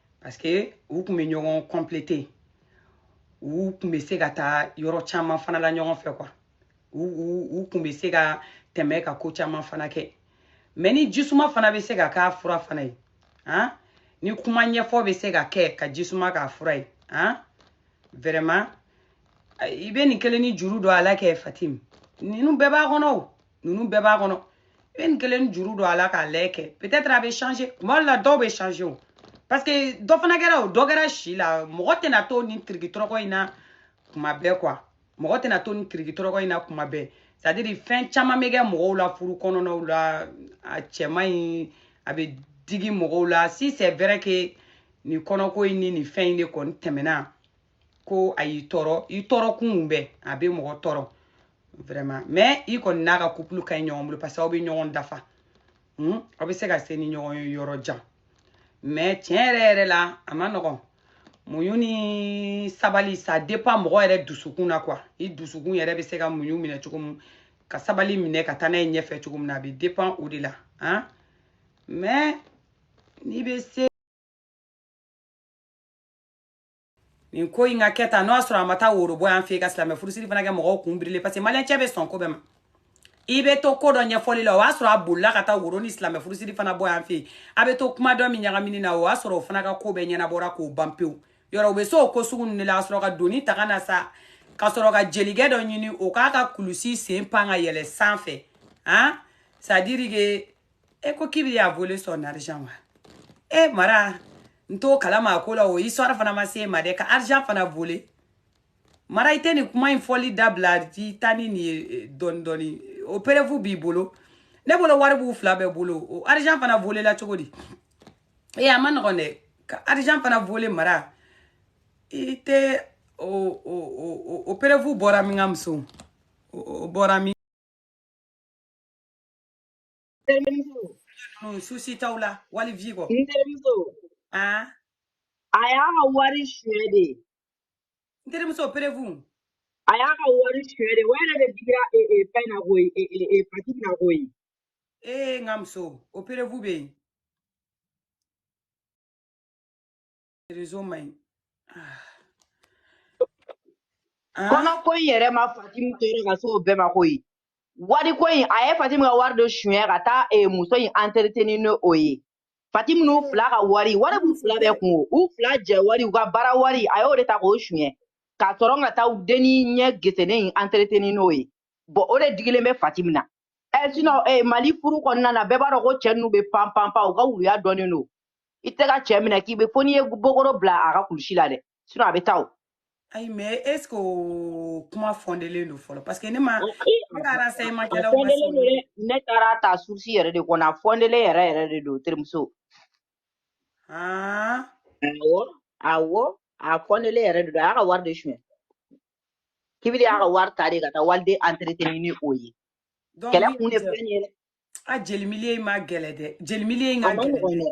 parce que u tun bɛ ɲɔgɔn complete u tun bɛ se ka taa yɔrɔ caman fana la ɲɔgɔn fɛ quoi u u u tun bɛ se ka tɛmɛ ka ko caman fana kɛ mais ni jisuma fana bɛ se ka k'a fura fana ye han ni kuma ɲɛfɔ bɛ se ka kɛ ka jisuma k'a fura ye han vraiment i bɛ nin kelen ni juru don a la kɛ fatim ninnu bɛɛ b'a kɔnɔ o ninnu bɛɛ b'a kɔnɔ i bɛ nin kelen juru don a la k'a lɛ kɛ peut-être a bɛ changer tuma dɔ la dɔw bɛ changer o parce que dɔ fana kɛra o dɔ kɛra si la mɔgɔ tɛna to nin tiriki tɔrɔkɔ in na kuma bɛɛ quoi mɔgɔ tɛna to nin tiriki tɔrɔkɔ in na kuma bɛɛ c'est à dire fɛn caman bɛ kɛ mɔgɔw la furu kɔnɔnaw la a cɛ man ɲi a bɛ digi mɔgɔw la si c'est vrai que nin kɔnɔko in ni nin fɛn in de kɔni tɛmɛna ko a y'i tɔɔrɔ i tɔɔrɔ kun bɛ a bɛ mɔgɔ tɔɔrɔ vraiment mais i kɔni n'a ka couple ka ɲi ɲɔgɔn bolo parce que aw bɛ ɲɔgɔn dafa hmm? aw bɛ se ka se ni ɲɔgɔn ye yɔrɔ jan mais tiɲɛ yɛrɛ yɛrɛ la a man nɔgɔn muɲu ni sabali ça dépend mɔgɔ yɛrɛ dusukun na quoi i dusukun yɛrɛ bɛ se ka muɲu minɛ cogo min ka sabali minɛ ka taa n'a ye ɲɛfɛ cogo min na a bɛ dépend o de la hein mais n'i bɛ se nin ko in ka kɛ tan n'o y'a sɔrɔ a ma taa woro bɔ yan fɛ yen ka silamɛ furusiri fana kɛ mɔgɔw kun birilen parce que maliyɛncɛ bɛ sɔn ko bɛɛ ma i bɛ to ko dɔ ɲɛfɔli la o y'a sɔrɔ a bolila ka taa woro ni silamɛ furusiri fana bɔ yan fɛ yen a bɛ to kuma dɔ min ɲagamini na o y'a sɔrɔ o fana ka ko bɛɛ ɲɛnabɔra k'o ban pewu yɔrɔ u bɛ se o ko sugu ninnu de la ka sɔrɔ ka doni ta ka na sa ka sɔrɔ ka jelikɛ dɔ ɲini o k'a ka kulusi sen pan ka yɛlɛ sanfɛ han c'est à dire que e ko kibili a volé son argent wa e mara n t'o kalama a ko la o histoire fana ma se e ma dɛ ka argent fana vole mara i tɛ nin kuma in fɔli dabila i taa ni nin ye dɔɔni dɔɔni o preuve b'i bolo ne bolo wari b'u fila bɛɛ bolo o argent fana volela cogo di ee a man nɔgɔn dɛ ka argent fana vole mara i tɛ o o o o preuve bɔra min n ka muso o bɔra min Terimuso. Souci t'aw la wali vi kɔ. N terimuso. Aa. A y'a ka wari suɲɛ de. N terimuso preuve. A y'a ka wari suɲɛ de. O yɛrɛ de digira fɛn na koyi Fatimu na koyi. Ee n ka muso o preuve bɛ yen. réseau man ɲi kɔnɔ ko in yɛrɛ ma fatimu tɔɔrɔ ka se o bɛɛ ma koyi wari ko in a ye fatimu ka wari dɔ suɲɛ ka taa eh, muso in entretenir ni o ye fatimu n'u fila ka wari wari b'u fila bɛɛ kun o u fila jɛ wari u ka baara wari a y'o de ta k'o suɲɛ ka sɔrɔ ka taa u denni ɲɛ gesennen in entretenir n'o ye bɔn o de digilen bɛ fatimu na ɛ eh, sinɔn eh, mali furu kɔnɔna na bɛɛ b'a dɔn ko cɛ ninnu bɛ pan pan pan u ka wuluya dɔnnen don i tɛ ka cɛ minɛ k'i bɛ fo n'i ye bokoro bila a ka kulusi la dɛ sinɔn a bɛ taa o ayi mais est ce que o kuma fɔndelen don fɔlɔ parce que ne ma ne ka renseignement kɛlaw ma se ne taara ta source yɛrɛ de kɔnɔ a fɔndelen yɛrɛ yɛrɛ de don terimuso awɔ awɔ a fɔndelen yɛrɛ de don a y'a ka wari de suɲɛ kibili y'a ka wari ta de ka taa waliden entretenir ni o ye Donc, kɛlɛ kun de filɛ nin ye dɛ a jeli milieu in ma gɛlɛ dɛ jeli milieu in o ka ma gɛlɛ nɔgɔn dɛ dɛ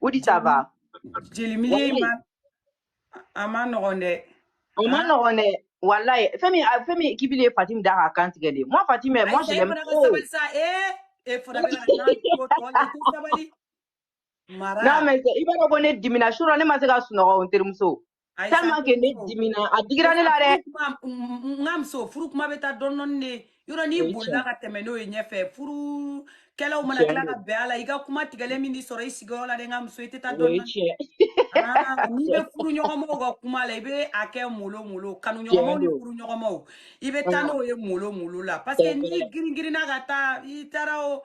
o di ça va jeli milieu in walayi ma a man nɔgɔn dɛ o man han nɔgɔn dɛ walayi fɛn min a- fɛn min kibili ye fatimi da k'a kan tigɛ de ye moi fatimi moi ayi sa je e l'aime fana ka trop sabali sa ee e fana bɛ ka nan ko tɔ la i tɛ sabali mara non mais i b'a dɔn ko ne dimina surɔ ne ma se ka sunɔgɔ n terimuso Ayi sa, tellement que ne dimina a digira ne la dɛ furu kuma n ka muso furu kuma bɛ taa dɔɔni dɔɔni de yɔrɔ o n'i ye bolila tiɲɛ ka tɛmɛ n'o ye ɲɛfɛ furukɛlaw mana tiɲɛ tila don ka bɛn a la i ka kuma tigɛlen min b'i sɔrɔ i sigiyɔrɔ la dɛ n ka muso i tɛ taa o dɔɔni ye dɔɔni tiɲɛ aa n'i bɛ furu ɲɔgɔnmaw ka kuma la i bɛ a kɛ molo molo tiɲɛ kanuɲɔgɔnmaw ni don furu ɲɔgɔnmaw i bɛ taa aa n'o ye molo molo la parce que c'est n'i vrai girin girinna ka taa i taara o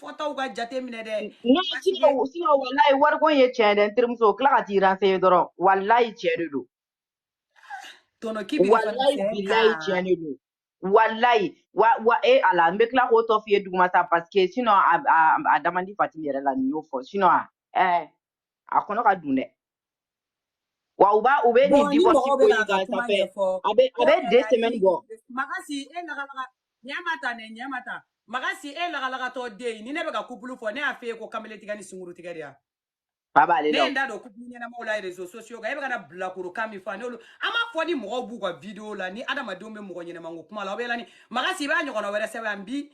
fɔtaw ka jate minɛ dɛ ne parce que sinɔn sinɔn walayi wariko in ye tiɲɛ ye dɛ n terimuso o tila ka t'i renseigner dɔrɔn walayi tiɲɛ de don tɔnɔ k'i bɛ ka fana walayi sɛgɛn bilayi kan tiɲɛ de don walayi wa wa e ala n bɛ tila k'o tɔ f'i ye duguma sa parce que sinɔn a a a da man di fatimu yɛrɛ la ni n y'o fɔ sinɔn a ɛɛ a kɔnɔ ka dun dɛ wa u b'a u bɛ nin bɔn ni divorce mɔgɔw ko bɛ in k'a ka kan kuma ça fait ɲɛfɔ a bɛ a ko bɛ deux semaines hakili bɔ magasi e lagalaga ɲɛ ma ta nɛ ɲɛ ma ta magasi e lagalagatɔ den ye, ni ne bɛ ka kupulu fɔ ne y'a f'e ye ko kamalen tigɛ ni sunguru tigɛ de ya fa b'ale ne la ye o n da don kupulu ɲɛnamaw la réseaux sociaux kan e bɛ ka na bilakoro kan min fɔ a n'olu an m'a fɔ ni mɔgɔw b'u ka video la ni adamadenw bɛ mɔgɔ ɲɛnama ko kuma la aw bɛ yala ni magasi i b'a ɲɔgɔnna wɛrɛ sɛbɛn yan n bi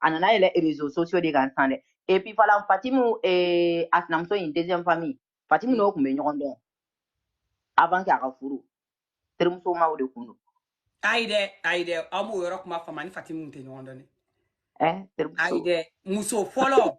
a nana yɛlɛ réseaux sociaux de kan san dɛ et puis fana fatimu eh, a sinamuso in deuxième famille fatimu n'o tun bɛ ɲɔgɔn dɔn avant que a ka furu terimusomaw de kun don ayi dɛ ayi dɛ aw m'o yɔrɔ kuma faamu a ni fatimu tɛ ɲɔgɔn dɔn dɛ eh, ayi terimuso dɛ muso fɔlɔ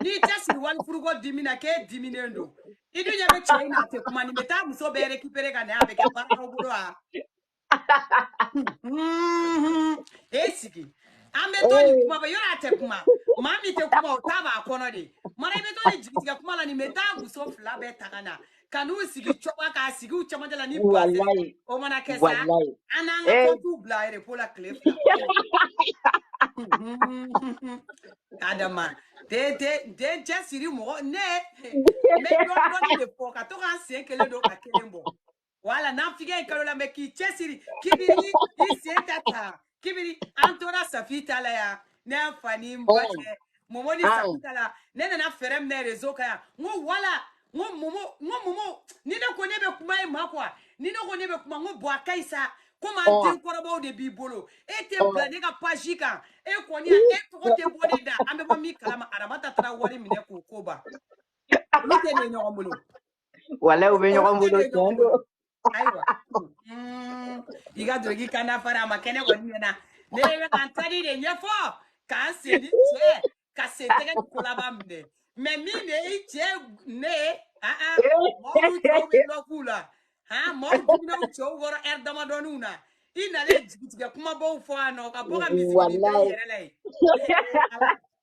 n'i tɛ sigi wali furuko dimi na k'e diminen don i dun ɲɛ bɛ cɛ in na a tɛ kuma nin bɛ taa muso bɛɛ récupérer ka na a bɛ kɛ baaraw bolo wa Mhm. e sigi an bɛ to nin kuma bɛ yɔrɔ a tɛ kuma maa min tɛ kuma o ta b'a kɔnɔ de mara i bɛ to nin jigitigɛ kuma la nin bɛ taa muso fila bɛɛ ta ka na ka n'u sigi coba k'a sigi u cɛmancɛ la ni base walayi o mana kɛ sa walayi an n'an ka ee kɔntiw bila repo la tile fila adama den den den cɛ siri mɔgɔ ne n bɛ dɔɔni dɔɔni de fɔ ka to k'an sen kelen don ka kelen bɔ wala naafigi nkalon lamɛn k'i cɛ siri kibiri i sen ta ta kibiri an tora safi ta la yan ne y'a fa ni n ba Oh, cɛ momo ni ah, safi ta la ne nana fɛɛrɛ minɛ rezo kan yan n ko wala n ko momo n ko momo ni ne ko ne bɛ kuma e ma kuwa ni ne ko ne bɛ kuma n ko bɔn a ka ɲi sa komi an oh, den kɔrɔbaw de b'i bolo e tɛ oh. bila ne ka page kan e kɔni yan e tɔgɔ tɛ bɔ ne da an bɛ bɔ min kala ma aramata tarawore minɛ k'o ko ban olu tɛ ne ɲɔgɔn bolo Wala u bɛ olu ɲɔgɔn tɛ bolo ne ɲɔgɔn tiɲɛ bolo don. ayiwa mm, i ka dɔrɔki kanda fara a ma kɛnɛ kɔni ɲɛna ne bɛ ka n tadi de ɲɛfɔ k'an seli cɛ ka sen tɛgɛ ni kolaba minɛ mɛ min de i cɛ ne ye ah, ah, mɔgɔw cɛw bɛ dɔ k'u la ah, mɔgɔw jiginna u cɛw kɔrɔ ɛri damadɔninw na i nalen jigitigɛ kumabaw fɔ a nɔ ka bɔ ka miiri i yɛrɛ la yen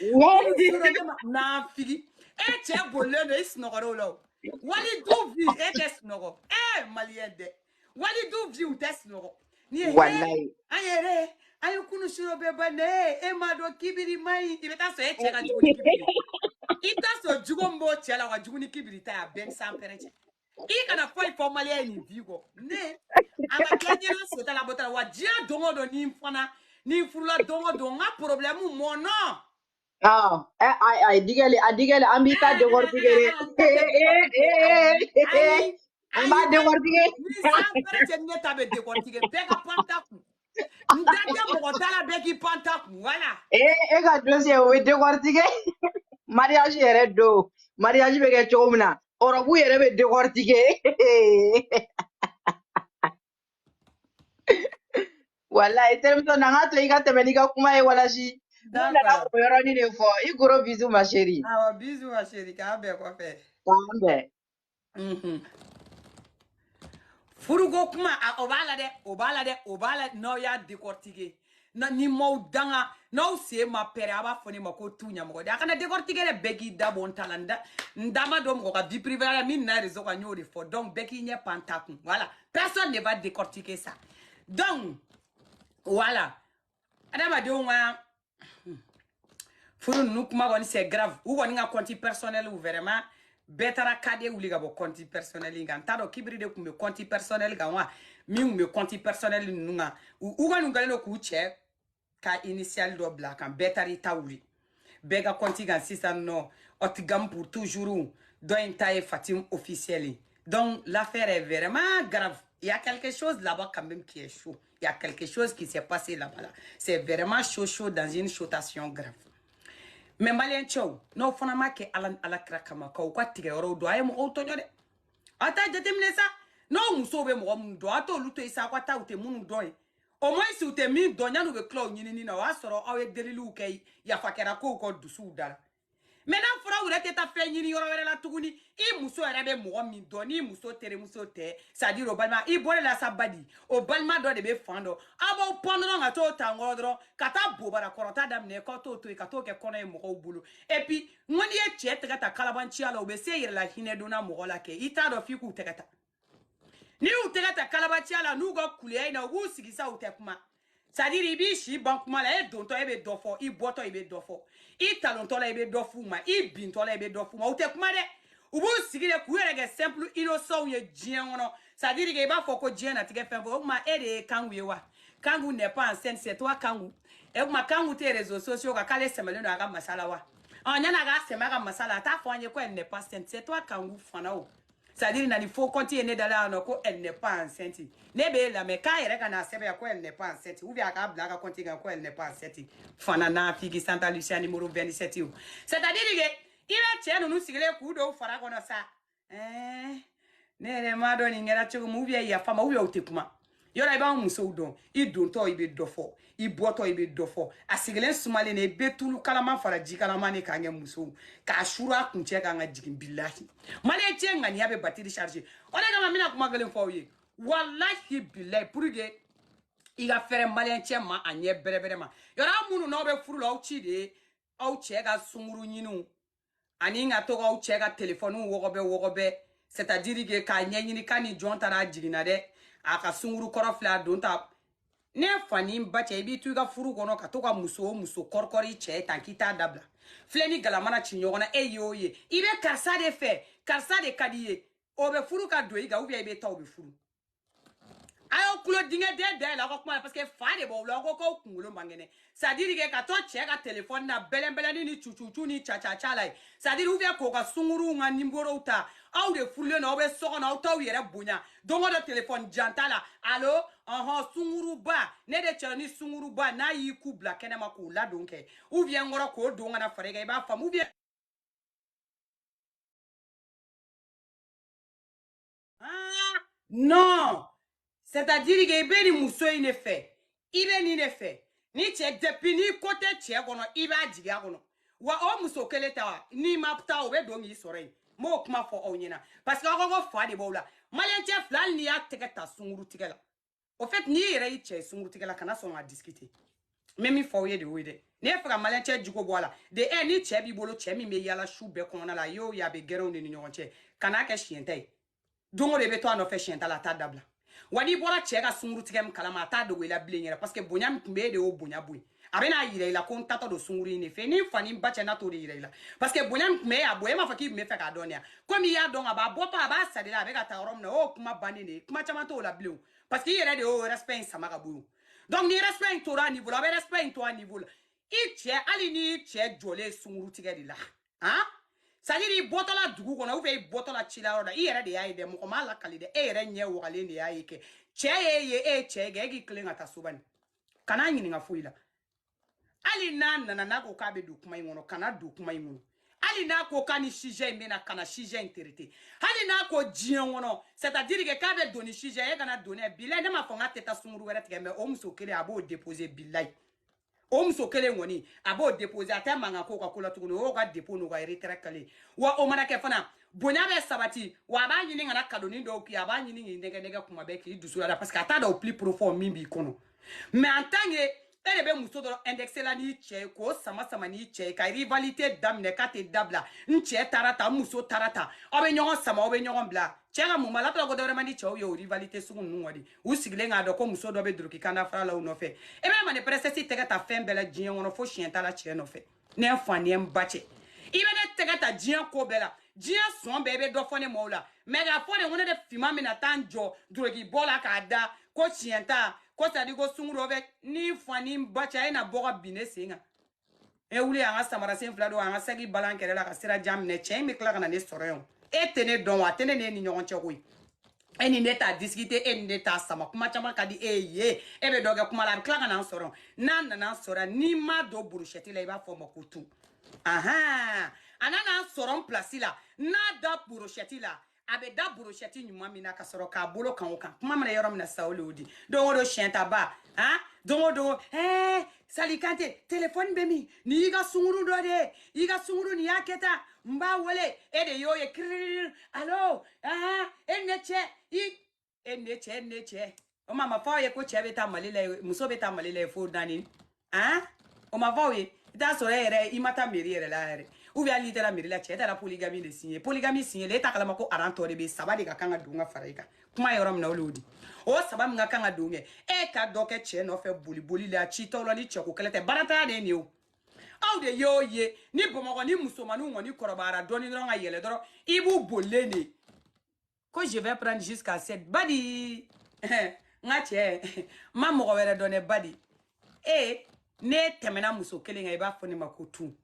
Wari di. Yɔrɔ ne ma naafigi e cɛ bolilen don i sunɔgɔra o la o wali du vi e tɛ sunɔgɔ ee maliyɛn dɛ wali du vi u tɛ sunɔgɔ ni ye he Walayi. an yɛrɛ an ye kunun su rɔ bɛɛ ban dɛ e m'a dɔn kibiri ma ɲi i bɛ taa sɔrɔ e cɛ ka jugu ni kibiri ye i bɛ taa sɔrɔ jugu min b'o cɛ la o ka jugu ni kibiri ta ye a bɛɛ ni sanpɛrɛn cɛ i kana foyi fɔ maliyɛn ye nin bi kɔ ne a ka kɛ ɲɛna seta la bɔta wa diɲɛ don o don ni n fana ni n furula don o don n ka problème mɔnɔ a digɛli, a digɛli, an b'i ta décortiquer. An b'a décortiquer. Ni sanpɛrɛn cɛ ne ta bɛ décortiquer bɛɛ ka pan ta kun. N da tɛ mɔgɔ ta la bɛɛ k'i pan ta kun voilà e e ka dossier o bɛ décortiquer mariage yɛrɛ don mariage bɛ kɛ cogo min na robe yɛrɛ bɛ décortiquer walayi terimuso na n ka to i ka tɛmɛ n'i ka kuma ye walasi ne nana d'accord o yɔrɔnin de fɔ i gros bisous ma chérie awɔ bisous ma chérie k'an bɛn kɔfɛ k'an bɛn Mhm. furuko kuma a- o b'a la dɛ o b'a la dɛ o b'a la n'aw y'a décortiquer na ni n m'aw danga n'aw sen ma pɛrɛn a b'a fɔ ne ma ko tu ɲɛmɔgɔ de a kana décortiquer dɛ bɛɛ k'i da bɔ n ta la n da n da ma don mɔgɔ ka vie privée la min nana réseau kan n y'o de fɔ donc bɛɛ k'i ɲɛ pan ta kun voilà personne ne va décortiquer ça donc voilà adamadenw ka hmm, furu ninnu kuma kɔni c'est grave u kɔni ka compte personnel u vraiment bɛɛ taara kade wuli ka bɔ compte personnel in kan n t'a dɔn kibiri de tun bɛ compte personnel kan wa min tun bɛ compte personnel ninnu kan u kɔni kɛlen don k'u cɛ ka initial dɔ bila a kan bɛɛ taara i ta wuli bɛɛ ka compte kan sisan nɔ ɔtigam pour toujours dɔ in ta ye fatim officiel ye donc l'affaire est vraiment grave il y a quelque chose là-bas quand même qui est chaud il y a quelque chose qui s'est passé là-bas là c'est vraiment chaud chaud dans une chotation grave mais maliyɛn cɛw n'aw fana m'a kɛ ala ni ala kira kama k'aw ka tigɛ yɔrɔw dɔn a ye mɔgɔw tɔɲɔ dɛ a t'a jateminɛ sa n'aw musow bɛ mɔgɔ minnu dɔn a t'olu to yen sa aw ka taa u tɛ minnu dɔn ye au moins u tɛ min dɔn yan'u bɛ tila o ɲinini na o y'a sɔrɔ aw ye deliliw kɛ yafa kɛra kow kɔ dusuw dala mais n'a fɔra u yɛrɛ tɛ taa fɛn ɲini yɔrɔ wɛrɛ la tuguni i muso yɛrɛ bɛ mɔgɔ min dɔn n'i muso terimuso tɛ c'est-à-dire o balima i bɔle la sa badi o balima dɔ de bɛ fan dɔ aw b'aw pan dɔrɔn ka t'o ta nkɔrɔ dɔrɔn ka taa bobara kɔrɔta daminɛ k'aw t'o to yen ka t'o kɛ kɔnɔ ye mɔgɔw bolo et puis n ko n'i ye cɛ tɛgɛ ta kalabanciya la u bɛ se yɛrɛ la hinɛ donna mɔgɔ la kɛ i t'a dɔn f'i k'u tɛgɛ ta n'i y'u tɛgɛ ta kalabanciya la n'u ka kuleya in na u b'u sigi sa u tɛ kuma c'est-à-dire i b'i si ban kuma la e dontɔ e bɛ dɔ fɔ i bɔtɔ i bɛ dɔ fɔ i talontɔ la i bɛ dɔ f'u ma i bintɔ la i bɛ dɔ f'u ma u tɛ kuma dɛ u b'u sigi de k'u yɛrɛ kɛ simple innocentw ye diɲɛ kɔnɔ c'est-à-dire que i b'a fɔ ko diɲɛnatigɛ fɛn fɛ o tuma e de ye kangu ye wa kangu n'est pas une sainte c'est toi kangu e tuma kangu tɛ réseaux sociaux kan k'ale sɛmɛlen don a ka masa la wa ɔ yan'a k'a sɛmɛ a ka masa la a t'a fɔ an ye ko elle n'est pas sainte c'est toi kangu fana o c'est à dire na ni faux compte ye ne da la no ko elle n'est pas enceinte ne b'e lamɛn k'a yɛrɛ ka n'a sɛbɛn ko elle n'est pas enceinte ou bien a k'a bila a ka compte kan ko elle n'est pas enceinte fana n'a figi santa lucia numéro 27 o c'est à dire que i bɛ cɛ ninnu sigilen k'u dɔw fara kɔnɔ sa ɛɛ ne yɛrɛ m'a dɔn nin kɛra cogo min ou bien yafa ma ou bien u tɛ kuma yɔrɔ i b'an musow dɔn i dontɔ i bɛ dɔ fɔ i bɔtɔ i bɛ dɔ fɔ a sigilen sumalen de i bɛ tulu kalama fara ji kalama de kan kɛ musow k'a suru a kun cɛ k'an ka jigin bilahi maliyɛn cɛ ŋaniya bɛ batiri charger o de kama n bɛna kuma gɛlɛn fɔ aw ye walahi bilahi pour que i ka fɛrɛ maliyɛn cɛ ma a ɲɛ bɛrɛbɛrɛ ma yɔrɔ aw minnu n'aw bɛ furu la aw ci de ye aw cɛ ka sunkuru ɲiniw ani ka to k'aw cɛ ka telefɔniw wɔgɔbɛ wɔgɔbɛ c'est à dire que k'a ɲɛɲini k'a ni jɔn taara a jiginna dɛ a ka sunkuru kɔrɔ filɛ a don ta ne fa ni ba cɛ i b'i to i ka furu kɔnɔ ka to ka muso o muso kɔrikɔri cɛ tan k'i t'a dabila filen ni galama na ci ɲɔgɔn na e ye o ye i bɛ karisa de fɛ karisa de ka di i ye o bɛ furu ka don i kan ou bien i bɛ taa o bɛ furu a y'aw kulo dingɛ den da yɛlɛ aw ka kuma la parce que fa de b'aw la aw ko k'aw kunkolo man kɛnɛ c'est à dire que ka to cɛ ka telefɔni na bɛlɛnbɛlɛnni ni cucucu ni cacaca la c'est à dire ou bien k'o ka sunguruw ka nimorow ta aw de furulen don aw bɛ so kɔnɔ aw t'aw yɛrɛ bonya don o don telefɔni janta la alo ɔhɔn sunguruba ne de cɛ de nin sunguruba n'a y'i ku bila kɛnɛma k'o ladon kɛ ou bien n kɔrɔ k'o don ka na fara i kan i b'a faamu ou bien Ah, non c'est-à-dire que i bɛ nin muso in de fɛ i bɛ nin de fɛ ni cɛ depuis ni ko tɛ cɛ kɔnɔ i b'a jigin a kɔnɔ wa o muso kelen ta wa n'i ma taa o bɛ don k'i sɔrɔ yen n b'o kuma fɔ aw ɲɛna parce que aw ko ko fa de b'aw la maliyɛn cɛ filɛ hali n'i y'a tɛgɛ ta sunkurutigɛ la au fait n'i yɛrɛ y'i cɛ sunkurutigɛ la kana sɔn ka discuter n bɛ min fɔ aw ye de o ye dɛ n'i ye fɛ ka maliyɛn cɛ jogo bɔ a la de ɛ ni cɛ b'i bolo cɛ min bɛ yala su bɛɛ kɔnɔna la y'o ye a bɛ gɛrɛnw de ni ɲɔgɔn cɛ kan'a kɛ siɲɛta ye don o don i bɛ to a nɔfɛ siɲɛta la a t'a dabila wa n'i bɔra cɛ ka sunkurutigɛ min kalama a t'a dogo i la bilen yɛrɛ parce que bonya min tun bɛ e de y'o bonya bɔ yen a bɛna yira i la ko n taatɔ don sunkuru in de fɛ ni n fa ni n ba cɛ n'a t'o de yira i la parce que bonya min tun bɛ a bonya e m'a fɔ k'i tun bɛ fɛ k'a dɔn de ya komi i y'a dɔn ka ban a bɔtɔ a b'a sara i la a bɛ ka taa yɔrɔ min na o kuma bannen de ye kuma caman t'o la bilen parce que i yɛrɛ de y'o respect in sama ka bɔ yen donc ni respect in tora a niveau la a bɛ respect in to a niveau la i cɛ hali ni cɛ jɔlen sunkuru tigɛ de la han c'est à dire i bɔtɔla dugu kɔnɔ ou bien i bɔtɔla cila yɔrɔ la i yɛrɛ de y'a ye dɛ mɔgɔ m'a lakali dɛ e yɛrɛ ɲɛ wagalen de y'a ye kɛ cɛ y'e ye e ye cɛ ye kɛ e k'i tilen ka taa so bani kana ɲininka foyi la hali n'a nana n'a ko k'a bɛ don kuma in kɔnɔ kana don kuma in kɔnɔ hali n'a ko k'a ni sujet in bɛ na kana sujet in traiter hali n'a ko diɲɛ kɔnɔ c'est à dire que k'a bɛ don ni sujet e kana don n'a ye bilayi ne m'a fɔ n k'a tɛ taa sunguru wɛrɛ tigɛ mais o muso kelen a b'o déposer bilayi o muso kelen kɔni a b'o déposer a tɛ mankan k'o ka ko la tuguni o y'o ka dépôt n'o ka retrait kɛlen wa o mana kɛ fana bonya bɛ sabati wa a b'a ɲini ka na kadonin dɔw k'i a b'a ɲini k'i nɛgɛ nɛgɛ kuma bɛɛ k'i dusu la parce que a t'a dɔn au plus profond min b'i kɔnɔ mais en tant que e de bɛ muso dɔrɔn indexer la n'i cɛ ye k'o sama sama n'i cɛ ye ka rivalité daminɛ k'a tɛ dabila n cɛ taara ta n muso taara ta aw bɛ ɲɔgɔn sama aw bɛ ɲɔgɔn bila cɛ ka mun b'a la tɔgɔ ko dɔwɛrɛ man di cɛw ye o rivalité sugu ninnu kɔni u sigilen k'a dɔn ko muso dɔ bɛ doroki kanda fara la u nɔfɛ e bɛ mani princesse tɛgɛ ta fɛn bɛɛ la diɲɛ kɔnɔ fo siɲɛta la cɛ nɔfɛ ne fa ni n ba cɛ i bɛ ne tɛgɛ ta diɲɛ ko bɛɛ la diɲɛ sɔn bɛɛ i bɛ dɔ fɔ ne ma o la mais k'a fɔ de ko ne de finman bɛna taa n jɔ durokibɔ la k'a da ko siɲɛta ko c'est-à-dire ko sunguru e n'i fa n'i ba cɛ a ye na bɔ ka bin ne sen kan e wuli an ka samarasen fila don an ka saki balan kɛrɛ la ka sira jan minɛ cɛ in bɛ tila ka na ne sɔrɔ yan e tɛ ne dɔn wa a tɛ ne ne n'i ɲɔgɔn cɛ koyi e ni ne t'a discuter e ni ne t'a sama kuma caman ka di e ye e bɛ dɔ kɛ kuma la a bɛ tila ka na n sɔrɔ n'a nana n sɔrɔ n'i ma don burushɛti la i b'a fɔ o ma ko tu ahan a nana n sɔrɔ n pilasi la n'a da burushɛti la a bɛ da burushɛti ɲuman min na ka sɔrɔ k'a bolo kan o kan kuma mana yɔrɔ min na sisan o le y'o di don o don siyɛntaba han don o don ɛɛ sali kante telefɔni bɛ min nin y'i ka sunguru dɔ de ye i ka sunguru nin y'a kɛ tan n b'a wele e de y'o ye kiriri alo aha e ne cɛ i e ne cɛ e ne cɛ o ma fɔ aw ye ko cɛ bɛ ta mali la muso bɛ ta mali la fo naani ah o ma fɔ aw ye i t'a sɔrɔ e yɛrɛ i ma taa meri yɛrɛ la yɛrɛ ou bien hali n'i taara meri la cɛ taara poligami de siɲɛ poligami siɲɛ la e t'a kalama ko aran tɔ de bɛ saba de ka kan ka don ka fara i kan kuma yɔrɔ min na o de y'o di o saba min ka kan ka don kɛ e ka dɔ kɛ cɛ nɔfɛ boli boli la citɔ la ni cɛko kɛlɛ tɛ baarantanya de ye nin ye o aw de y'o ye ni bamakɔ ni musomaninw kɔni kɔrɔbayara dɔɔni dɔrɔn ka yɛlɛ dɔrɔn i b'u bolilen ye ko je vais prendre jusqu'à sept badi n ka cɛ n ma mɔgɔ wɛrɛ dɔn dɛ badi e n'e tɛmɛna muso kelen kan i b'a fɔ ne ma ko tu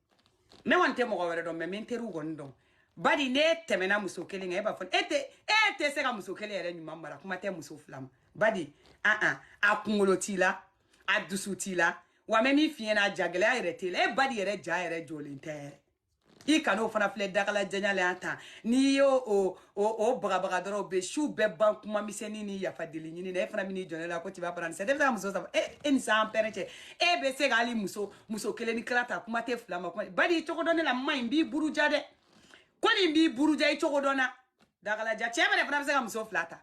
ne kɔni tɛ mɔgɔ wɛrɛ dɔn mais n teriw kɔni dɔn badi n'e tɛmɛna muso kelen kan e b'a fɔ e tɛ e tɛ se ka muso kelen yɛrɛ ɲuman mara kuma tɛ muso fila ma badi an an a kunkolo t'i la a dusu t'i la wa n bɛ min f'i ɲɛna jagɛlɛya yɛrɛ t'i la e badi yɛrɛ ja yɛrɛ jɔlen tɛ yɛrɛ i kan'o fana filɛ dagala janya la yan tan n'i y'o o o o bagabaga dɔrɔn bɛ su bɛɛ ban kuma misɛnnin ni yafa deli ɲini na e fana bɛn'i jɔ ne la ko tu vas prendre sept ne bɛ taa muso saba e e ni san pɛrɛn cɛ e bɛ se ka hali muso muso kelen ni kila ta kuma tɛ fila ma kuma badi i cogo dɔn ne la maa nin b'i buruja dɛ ko nin b'i buruja i cogo dɔn n na dagalaja cɛ bɛrɛ fana bɛ se ka muso fila ta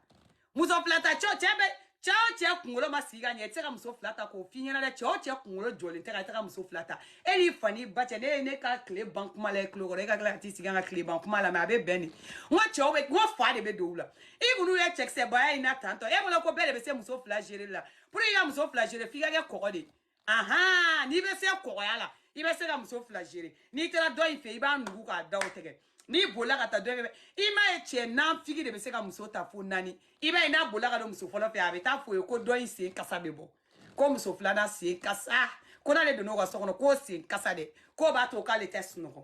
muso fila ta cɛ o cɛ bɛ cɛ o cɛ kunkolo ma sigi ka ɲɛ i tɛ se ka muso fila ta k'o f'i ɲɛna dɛ cɛ o cɛ kunkolo jɔlen tɛ ka i tɛ ka muso fila ta e n'i fa n'i ba cɛ ne ye ne ka tile ban kuma la i tulo kɔrɔ e ka tila ka t'i sigi an ka tile ban kuma la mais a bɛ bɛn de n ko cɛw bɛ n ko fa de bɛ don u la i kɔni ye cɛkisɛbaya in na tantɔ e bolo ko bɛɛ de bɛ se muso fila gérer la pour que i ka muso fila gérer f'i ka kɛ kɔgɔ de ye ahan n'i bɛ se kɔgɔya la i bɛ se ka muso fila gere n'i taara dɔ in fɛ i b'a nugu k'a da o tɛgɛ n'i bolila ka taa dɔ in fɛ i m'a ye cɛ nanfigi de bɛ se ka muso ta fo naani i b'a ye n'a bolila ka don muso fɔlɔ fɛ a bɛ taa f'o ye ko dɔ in sen kasa bɛ bɔ ko muso filanan sen kasa ko n'ale donn'o ka so kɔnɔ k'o sen kasa dɛ k'o b'a to k'ale tɛ sunɔgɔ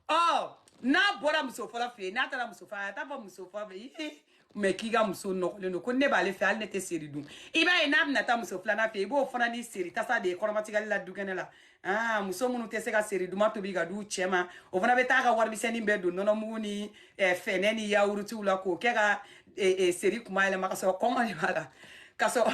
ɔ n'a bɔra muso fɔlɔ fɛ yen n'a taara muso fɔlɔ a t'a fɔ muso fɔlɔ fɛ mɛ k'i ka muso nɔgɔlen don ko ne b'ale fɛ hali ne tɛ seri dun i b'a ye n'a bɛna taa muso filanan fɛ i b'o fana ni seri tasa de ye kɔrɔmatigɛli la dukɛnɛ la aa muso minnu tɛ se ka seri duman tobi k'a d'u cɛ ma o fana bɛ taa ka warimisɛnnin bɛɛ don nɔnɔmugu ni fɛnɛ ni yawurutiw la k'o kɛ ka seri kuma yɛlɛma ka sɔrɔ kɔngɔ de b'a la ka sɔrɔ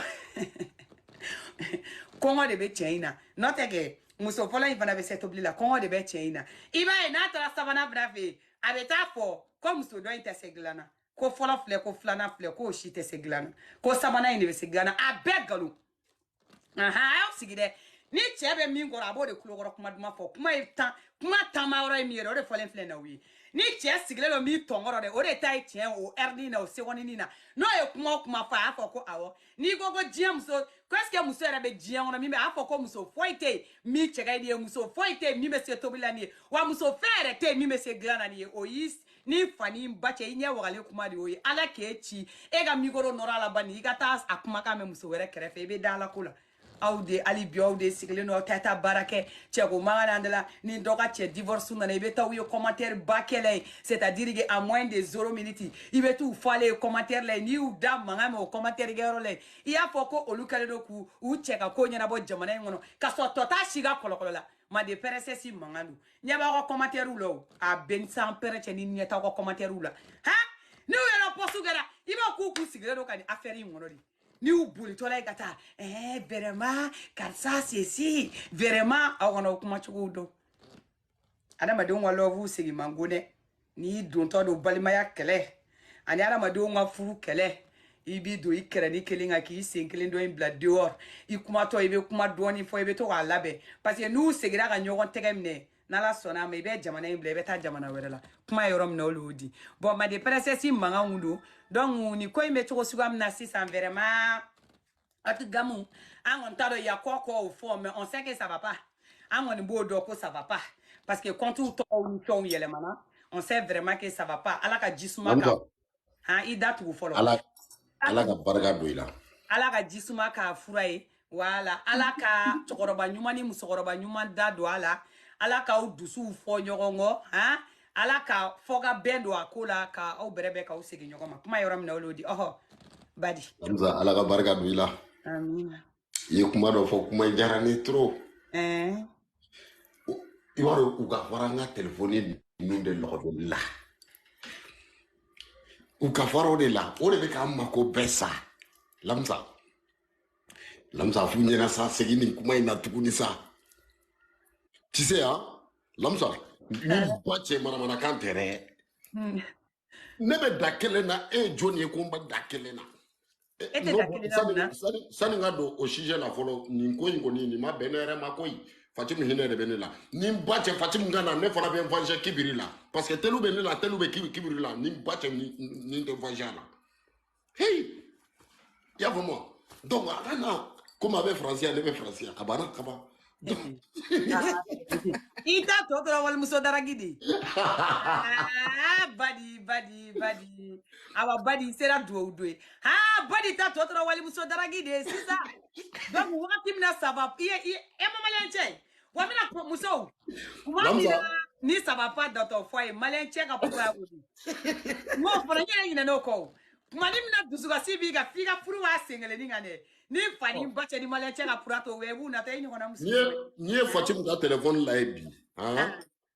kɔngɔ de bɛ cɛ in na n'o tɛ kɛ muso fɔlɔ in fana bɛ se tobili la kɔngɔ de bɛ cɛ in na i b'a ye n'a taara sabanan fana fɛ yen a bɛ taa fɔ ko muso dɔ in tɛ se dilan na ko fɔlɔ filɛ ko filanan filɛ k'o si tɛ se dilan na ko sabanan in de bɛ se dilan na a bɛɛ nkalon ahan a y'aw sigi dɛ ni cɛ bɛ min kɔrɔ a b'o de kulokɔrɔ kuma duman fɔ kuma ye tan kuma taama yɔrɔ ye min yɛrɛ o de fɔlen filɛ na o ye ni cɛ sigilen don min tɔnkɔrɔ dɛ o de ta ye tiɲɛ o ɛrinin na o segɔninin na n'o ye kuma o kuma fɔ a y'a fɔ ko awɔ n'i ko ko diɲɛ muso ko est ce que muso yɛrɛ bɛ diɲɛ kɔnɔ min bɛ a fɔ ko muso foyi tɛ yen min cɛ ka di ye muso foyi tɛ yen min bɛ se tobili la n'i ye wa muso fɛn yɛrɛ tɛ yen min bɛ se dilan na n'i ye o y'i ni fa ni ba cɛ i ɲɛ wagalen kuma de y'o ye ala k'e ci e ka mikoro nɔrɔ a la bani i ka taa a kumakan mɛn muso wɛrɛ kɛrɛfɛ i bɛ da ala ko la aw de hali bi aw de sigilen don aw tɛ taa baara kɛ cɛko mankan de la ni dɔ ka cɛ divorce nana i bɛ taa u ye commentaire ba kɛlɛ ye c'est à dire que à moins de zero minute i bɛ t'u falen ye commentaire la yen n'i y'u da mankan mɛn o commentaire kɛyɔrɔ la yen i y'a fɔ ko olu kɛlen don k'u u cɛ ka ko ɲɛnabɔ jamana in kɔnɔ ka sɔrɔ tɔ t'a si ka kɔlɔkɔlɔ la mande princesse mankan don ɲɛ b'aw ka commentaire la o a bɛ san pɛrɛ cɛ ni ɲɛ t'aw ka commentaire la han n'u yɛrɛ pɔsu kɛra i b'a k'u k'u sigilen don ka nin affaire in kɔnɔ de n'i y'u bolitɔla ye ka taa ɛɛ eh, vraiment karisa ceci vraiment aw ka na aw kuma cogo dɔn adamadenw ka love segin man go dɛ n'i dontɔ don balimaya kɛlɛ ani adamadenw ka furu kɛlɛ i b'i don i kɛrɛnin kelen kan k'i sen kelen dɔ in bila dehors i kumatɔ i bɛ kuma dɔɔni fɔ i bɛ to k'a labɛn parce que n'u segira ka ɲɔgɔn tɛgɛ minɛ n'ala sɔnna ma i bɛ jamana in bila i bɛ taa jamana wɛrɛ la kuma yɔrɔ min na o l'o di bon mande princesse mankanw don donc ni ko in bɛ cogo suguya min na sisan vraiment ati gamu an kɔni t'a dɔn y a quoi quoi au fond mais on sait que ça va pas an kɔni b'o dɔn ko ça va pas parce que comptew tɔgɔw ni fɛnw yɛlɛmana on sait vraiment que ça va pas ala ka jisuma k'a han i da tugu fɔlɔ ala ala ka barika don i la ala ka jisuma k'a fura ye wala ala ka cɛkɔrɔba ɲuman ni musokɔrɔba ɲuman da don a la ala k'aw dusuw fɔ ɲɔgɔn kɔ han ala ka fɔ ka bɛn don a ko la ka aw bɛrɛ bɛn k'aw segin ɲɔgɔn ma kuma yɔrɔ min na o l'o di ɔhɔ badi ala ka barika don i la amina i ye kuma dɔ fɔ kuma in diyara ne trop eh. i b'a dɔn u ka fara n ka telefɔni ninnu de lɔgɔdonni la u ka fara o de la o de bɛ k'an mako bɛɛ sa Lamisa Lamisa f'u ɲɛna sa segin nin kuma in na tuguni sa tu sais hein Lamisa ni ba cɛ manamanakan tɛ dɛ hmm. ne bɛ da kelen na e ye jɔn ye ko n bɛ da kelen na e tɛ da kelen na mun na sani n ka don o sujet la fɔlɔ nin ko in kɔni nin ma bɛn ne yɛrɛ ma koyi fatimu hinɛ de bɛ ne la ni n ba cɛ fatimu ka na ne fana bɛ n venger kibiri la parce que telu bɛ ne la telu bɛ kibiri la ni n ba cɛ ni n tɛ venger la Hey! I y'a faamu wa? Donc a ka na komi a bɛ faransi yan ne bɛ faransi yan a banna ka ban. Donc i ta tɔ tora walimuso drague de ye. Aa badi badi badi awa badi i sera duwawu don ye aa badi ta tɔ tora walimuso drague de ye c'est ça donc wagati min na ça va i ye i ye e ma maliyɛn cɛ Wa n bɛna kuma musow kuma min Lamisa. na ni ça va pas dans ton foyer maliyɛn cɛ ka kogoya ko di n b'o fɔra n yɛrɛ ɲinɛna o kɔ o kuma min na dusukasi b'i kan f'i ka furu b'a sen kelenni kan dɛ ni fa ni ba cɛ ni maliyɛn cɛ ka pura to wɛ i b'u nata i ɲɔgɔnna muso n'i ye n'i ye fatimu ka telefɔni la ye bi han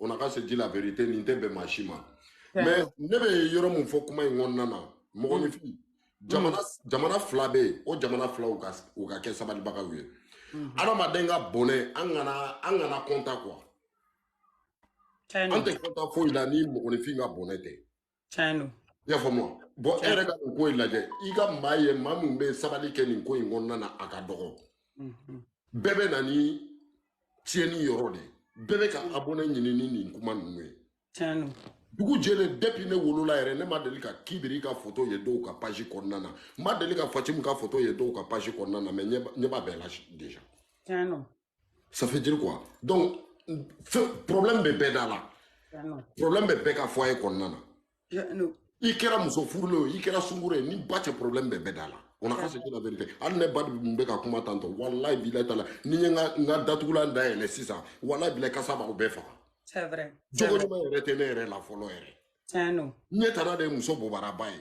on a qu'à se dire la vérité nin tɛ bɛn maa si ma mais ne bɛ yɔrɔ min fɔ kuma in kɔnɔna na mɔgɔninfin jamana jamana fila bɛ yen o jamana fila u ka u ka kɛ sabalibagaw ye adamaden ka bɔnɛ an kana an kana kɔntan quoi an tɛ kɔntan foyi la ni mɔgɔninfin ka bɔnɛ tɛ tiɲɛ don i y'a faamu wa bon e yɛrɛ ka nin ko in lajɛ i ka maa ye maa min bɛ sabali kɛ nin ko in kɔnɔna na a ka dɔgɔ mhm. bɛɛ bɛ na ni tiɲɛni yɔrɔ de ye bɛɛ bɛ ka abonné ɲini ni nin kuma ninnu ye tiɲɛ don dugu jɛlen depuis ne wolola yɛrɛ ne ma deli ka kibiri ka foto ye dɔw ka page kɔnɔna na ma deli ka fatimu ka foto ye dɔw ka page kɔnɔna na mais ɲɛ b'a bɛɛ la déjà tiɲɛ don ça fait dire quoi donc problème bɛ bɛɛ da la problème bɛ bɛɛ ka foyer kɔnɔna na i kɛra muso furulen o i kɛra sunkuru ye ni ba cɛ problème bɛ bɛɛ da la on a qu'à se dire la vérité hali ne ba min bɛ ka kuma tantɔ walayi bilayi taala ni n ye n ka n ka datugulan dayɛlɛ sisan walayi bilayi kasa b'aw bɛɛ faga c'est vrai jogo ɲuman yɛrɛ tɛ ne yɛrɛ la fɔlɔ yɛrɛ tiɲɛ don ɲɛ tana de ye muso bobaraba ye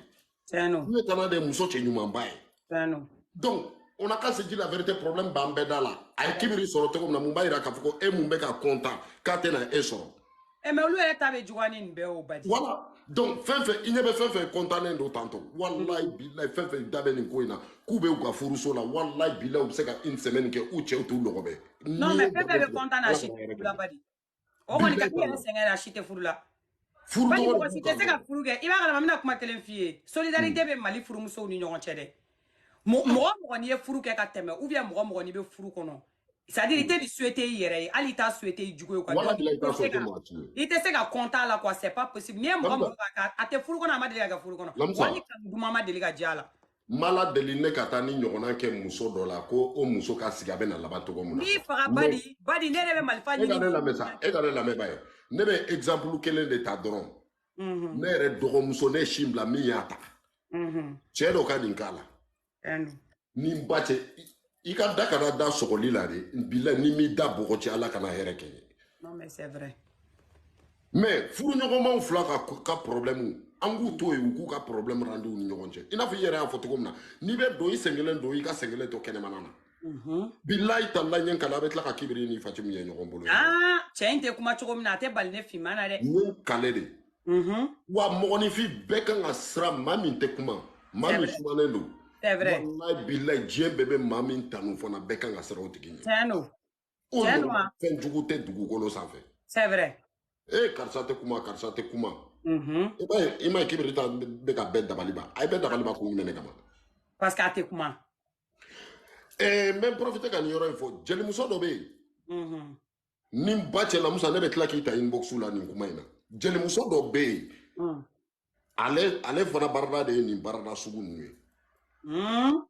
ɲɛ tana de ye muso cɛ ɲumanba ye donc on a qu'à se dire la vérité problème b'an bɛɛ da la a ye kibiri sɔrɔ cogo min na mun b'a yira k'a fɔ ko e min bɛ ka kɔntan k'a tɛna e sɔrɔ eh, mais olu yɛrɛ ta bɛ juguya ni nin bɛɛ y'o badi voilà donc fɛn fɛn i ɲɛ bɛ fɛn fɛn kɔntannen don tantɔ walayi bilayi fɛn fɛn da bɛ nin ko in na k'u bɛ u ka furuso la walayi bilayi u bɛ se ka une semaine kɛ u cɛw t'u lɔgɔbɛ non mais fɛn fɛn bɛ kɔntan na si t'u la badi o kɔni ka kɛ sɛgɛn la si tɛ furu la furu badi mɔgɔ si tɛ se ka furu kɛ i b'a kalama n bɛna kuma kelen f'i ye solidarité bɛ mali furumusow ni ɲɔgɔn cɛ dɛ mɔgɔ mɔgɔ n'i ye furu kɛ ka tɛmɛ ou bien mɔgɔ mɔgɔ n'i bɛ furu kɔnɔ c'est à dire i tɛ nin souhaiter i yɛrɛ ye hali i t'a souhaiter i jugu ye quoi walayi bilayi i t'a souhaiter mɔgɔ si ye i tɛ se ka content a la quoi c'est pas possible n'i ye mɔgɔ mɔgɔ ka a tɛ furu kɔnɔ a ma deli ka kɛ furu kɔnɔ wali kanu duman ma deli ka diya a la n b'ala deli ne ka taa nin ɲɔgɔnna kɛ muso dɔ la ko o muso ka sigi a bɛ na laban cogo min na n'i faga badi badi ne yɛrɛ bɛ marifa ɲini e ka ne lamɛn sa e ka ne lamɛn ba ye ne bɛ exemple kelen de ta dɔrɔn ne yɛrɛ dɔgɔmuso ne sin bila min y'a ta cɛ dɔ ka nin k'a la ni n ba cɛ i ka da kana da sɔgɔli la de bila ni n m'i da bɔgɔ ci ala kana hɛrɛ kɛ n ye mais furuɲɔgɔnmaw fila ka ka problɛmu an k'u to yen u k'u ka problɛmu ranger u ni ɲɔgɔn cɛ i n'a fɔ i yɛrɛ y'a fɔ cogo min na n'i bɛ don i senkelen don i ka senkelen to kɛnɛmana na mhm. bilayi tala n ye n kale a bɛ tila ka kibiri ni fatimu ye ɲɔgɔn bolo cɛ in tɛ kuma cogo min na a tɛ bali ne finman na dɛ n kale de Mm-hmm. wa mɔgɔninfin bɛɛ kan ka siran maa min tɛ kuma maa min sumanen don walayi bilayi diɲɛ bɛɛ bɛ maa min tanu fana bɛɛ kan ka siran o tigi ɲɛ tiɲɛ don o ɲɔgɔn fɛn jugu tɛ dugukolo sanfɛ c'est vrai ee karisa tɛ kuma karisa tɛ kuma mm-hmm. i b'a ye i m'a ye kibiri ta bɛ ka bɛɛ dabali ban a ye bɛɛ dabali ban kun jumɛn de kama parce que a tɛ kuma ɛɛ n bɛ n profiter ka nin yɔrɔ in fɔ jelimuso dɔ bɛ yen mm-hmm. ni n ba cɛ lamusa ne bɛ tila k'i ta inbox la nin kuma in na jelimuso dɔ bɛ yen hmm. ale ale fana barada de ye nin barada sugu ninnu ye hmm.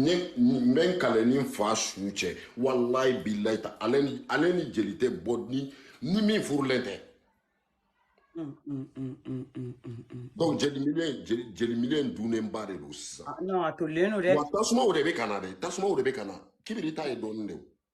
ne n bɛ n kale ni n fa su cɛ walayi bilayi tala ale ni ale ni jeli tɛ bɔ ni ni min furulen tɛ donc jeli milieu jeli milieu dunnenba de don sisan ah, non a tolilen don dɛ wa tasumaw de bɛ ka na dɛ tasumaw de bɛ ka na kibiri ta ye dɔɔnin de ye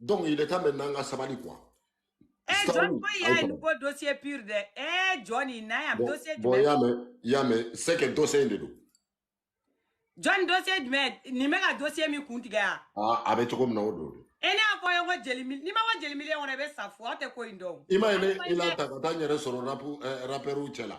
donc il est temps maintenant an ka sabali quoi Eh, John ko y'a ye ko dossier pur dɛ Eh, John i n'a yan dossier jumɛn bon y'a mɛn y'a mɛn c'est que dossier in de don John dossier jumɛn nin bɛ ka dossier min kun tigɛ yan ah, a bɛ cogo min na o don e ne y'a fɔ ye ko jeli mili n'i ma bɔ jeli milieu kɔnɔ i bɛ sa fo aw tɛ ko in dɔn i m'a ye ne i la ta ka taa n yɛrɛ sɔrɔ rapu eh, rapɛriw cɛ la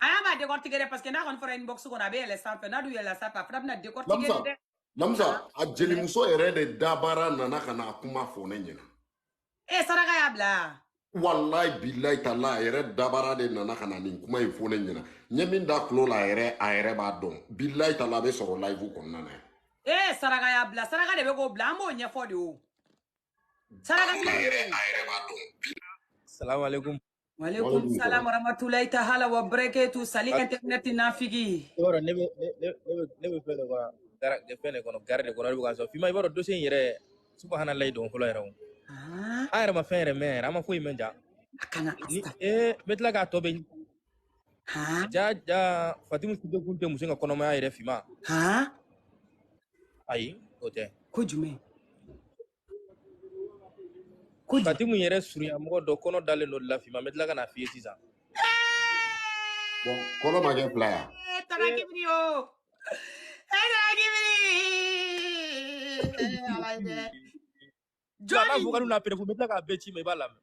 a y'a b'a décortiquer dɛ parce que n'a kɔni fɔra inbox kɔnɔ a bɛ yɛlɛ sanfɛ n'a dun yɛlɛla sanfɛ a fana bɛna décortiquer Lamusa, dɛ Lamusa, a jelimuso yɛrɛ de dabara nana ka na a kuma fɔ ne ɲɛna. e saraka y'a bila yan Walayi bilayi tala a yɛrɛ dabara de nana ka na nin kuma in fɔ ne ɲɛna. N ye min da tulo la a yɛrɛ a yɛrɛ b'a dɔn. Bilayi tala a bɛ sɔrɔ live kɔnɔna na. e saraka y'a bila saraka de bɛ k'o bila an b'o ɲɛfɔ de o saraka Tulo la a yɛrɛ a yɛrɛ b'a dɔn. Salamu alaikum. Waleykum salam waramatulayi ta hala wa bɛrɛkɛtu sali internet nafigi. I b'a dɔn ne bɛ ne ne ne bɛ ne bɛ fɛn de kɔnɔ gara fɛn de kɔnɔ gari de kɔnɔ ne bɛ ka sɔrɔ fima i b'a dɔn dossier in yɛrɛ subahanallahi don fɔlɔ yɛrɛ o. An yɛrɛ ma fɛn yɛrɛ mɛn yɛrɛ an ma foyi mɛn ja. A kana ni ee n bɛ tila k'a tɔ bɛɛ ja ja fatimu sido kun tɛ muso in ka kɔnɔmaya yɛrɛ fima ayi o tɛ. Ko jumɛn? Fatimu yɛrɛ surunyamɔgɔ dɔ kɔnɔ dalen don o la fima n bɛ tila ka n'a f'i ye sisan bon kɔnɔ ma kɛ fila ya eh, tarakibiri o e tarakibiri ala ye dɛ jɔn b'a fɔ ka n'u na preuve n bɛ tila k'a bɛɛ ci i ma i b'a lamɛn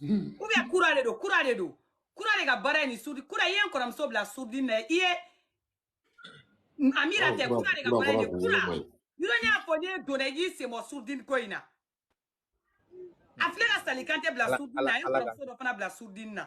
ou bien kura de don kura de don kura de ka baara ye nin sourdine kura i ye n kɔrɔmuso bila sourdine na i ye amira tɛ kura de ka baara ye nin kura yɔrɔ ne y'a fɔ ne donna i y'i sen bɔ sourdine ko in na a filɛ ka Sali Kantɛ bila sourdine na a ye n kɔrɔmuso dɔ fana bila sourdine na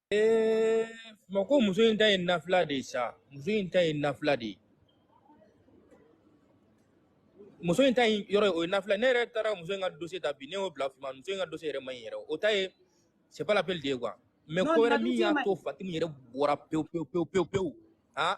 Ee fima ko muso in ta ye nafila de ye sa muso in ta ye nafila de ye muso in ta in yɔrɔ ye o ye nafila ne yɛrɛ taara muso in ka dossier ta bi ne y'o bila fima muso in ka dossier yɛrɛ man ɲi yɛrɛ o ta ye c'est pas la peine de ye quoi mais non ko wɛrɛ min y'a to Fatimu yɛrɛ bɔra pewu pewu pewu pewu pewu han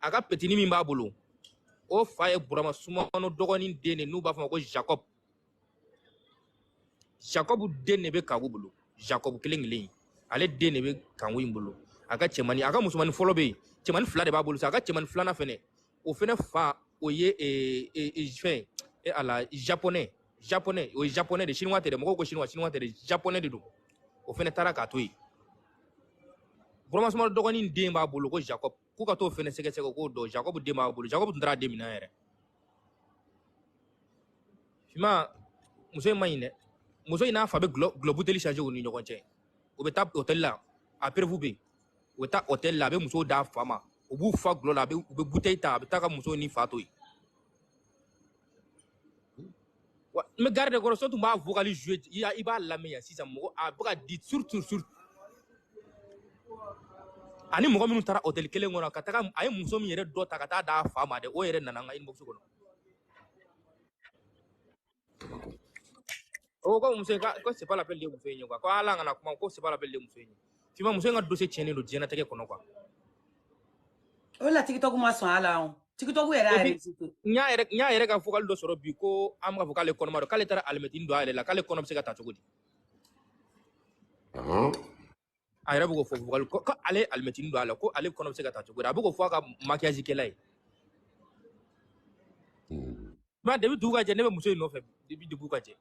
a ka petini min b'a bolo o fa ye burama sumano dɔgɔnin den de n'u b'a fɔ ma ko jacob jacob den de bɛ kanku bolo jacob kelen kelen ale den de bɛ kanku in bolo a ka cɛmani a ka musomanin fɔlɔ bɛ yen cɛmani fila de b'a bolo sa a ka cɛmani filanan fɛnɛ o fɛnɛ fa o ye eh, eh, eh, fɛn e ala japonais japonais o ye japonais de chinois tɛ dɛ mɔgɔw ko chinois chinois tɛ dɛ japonais de don o fɛnɛ taara k'a to yen burama sumano dɔgɔnin den b'a bolo ko jacob k'u ka t'o fɛnɛ sɛgɛsɛgɛ k'o dɔn jacob den b'a bolo jacob tun taara den minɛ yɛrɛ fima muso in man ɲi dɛ muso in n'a fa bɛ gulɔ buteli changer u ni ɲɔgɔn cɛ u bɛ taa hôtel la a preuve bɛ yen u bɛ taa hôtel la a bɛ musow d'a fa ma u b'u fa gulɔ la a bɛ u bɛ buteli ta a bɛ taa ka musow ni fa to yen Wa n bɛ gari de kɔnɔ so tun b'a vocal jouer i y'a i b'a lamɛn yan sisan mɔgɔ a bɛ ka di surtout surtout ani mɔgɔ minnu taara hôtel kelen kɔnɔ ka taga a ye muso min yɛrɛ dɔ ta ka taa d'a fa ma dɛ o yɛrɛ nana n ka inbox kɔnɔ o ko muso in ka ko c'est pas la peine de ye muso in ye quoi ko ala kana kuma ko c'est pas la peine de ye muso in ye fima muso in ka dossier tiɲɛnen don diɲɛnatigɛ kɔnɔ quoi o la tiktok ma sɔn a la o tiktok yɛrɛ y'a epi réussite n y'a yɛrɛ n y'a yɛrɛ ka vocal dɔ sɔrɔ bi ko an bɛ k'a fɔ k'ale kɔnɔma don k'ale taara alimɛtini don a yɛrɛ la k'ale kɔnɔ bɛ se ka ta cogo di Aham. a yɛrɛ bɛ k'o fɔ vocal ko ko ale ye alimɛtini don a la ko ale kɔnɔ bɛ se ka ta cogo di a bɛ k'o fɔ a ka maquillage kɛla ye mɛ depi dugu ka jɛ ne bɛ muso in nɔfɛ depi dugu ka jɛ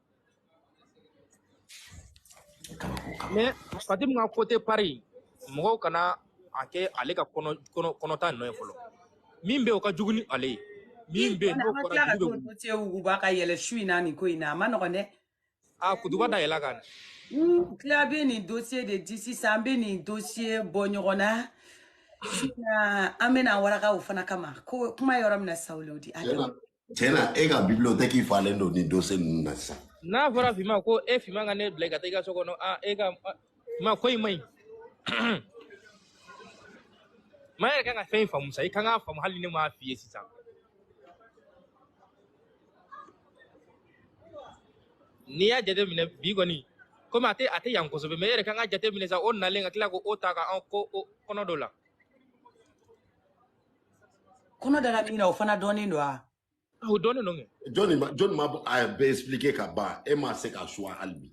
mɛ Fatim ka côté Paris mɔgɔw kana a kɛ ale ka kɔnɔ kɔnɔ kɔnɔta nɔ ye fɔlɔ min bɛ yen o ka jugu ni ale ye min bɛ yen n'o an ka fɔra tila ka dugu bɛ t'o wuli dote wuguba ka yɛlɛ su in na nin ko in na a man nɔgɔn dɛ a ah, kutuba da yɛlɛ kan n tila bɛ nin dossier de di sisan an bɛ nin dossier bɔ ɲɔgɔn na an bɛna waraka o fana kama ko kuma yɔrɔ min na sawuli o di a tiɲɛ na e ka bibiliyotɛki falen don nin dossier ninnu na sisan n'a fɔra fima ko e fima ka ne bila ka taa i ka so kɔnɔ e ka ma ko in man ɲi mɛ e yɛrɛ kan ka fɛn faamu sa i kan k'a faamu hali ne m'a f'i ye sisan n'i y'a jateminɛ bi kɔni komi a tɛ a tɛ yan kosɛbɛ mɛ e yɛrɛ kan ka jateminɛ sa o nalen ka tila ko o ta ka an ko o kɔnɔ dɔ la kɔnɔ dara min na o fana dɔnnen don a o dɔnnen don kɛ jɔnni ma jɔnni ma a bɛɛ expliquer ka ban e ma se ka suwa hali bi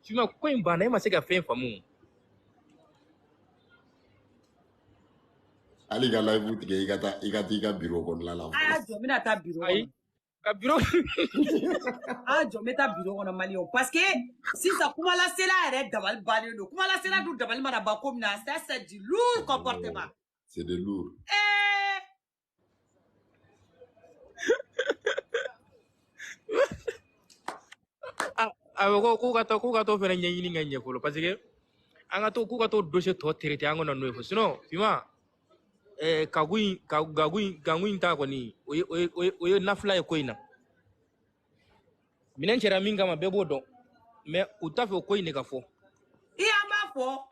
Fima ko in banna e ma se ka fɛn faamu hali ka live tigɛ i ka taa i ka taa i ka biro kɔnɔna la a y'a jɔ n bɛna taa biro ayi ka biro a y'a jɔ n bɛ taa biro kɔnɔ maliyɛnw parce que sisan kumalasela yɛrɛ dabali bannen don kumalasela dun dabali mana ban ko min na ça c'est du lourd comportement c'est de lourd ee Ah, a bɛ ko k'u ka to k'u ka to fɛɛrɛ ɲɛɲini ka ɲɛ fɔlɔ parce que an ka to k'u ka to dossier tɔ traité an kana n'o ye fo sinon Fima eh, kagu in ka- gagu in gagu in ta kɔni o ye o ye o ye o ye nafila ye ko in na minɛn cɛra min kama bɛɛ b'o dɔn mɛ u t'a fɛ o ko in de ka fɔ i an b'a fɔ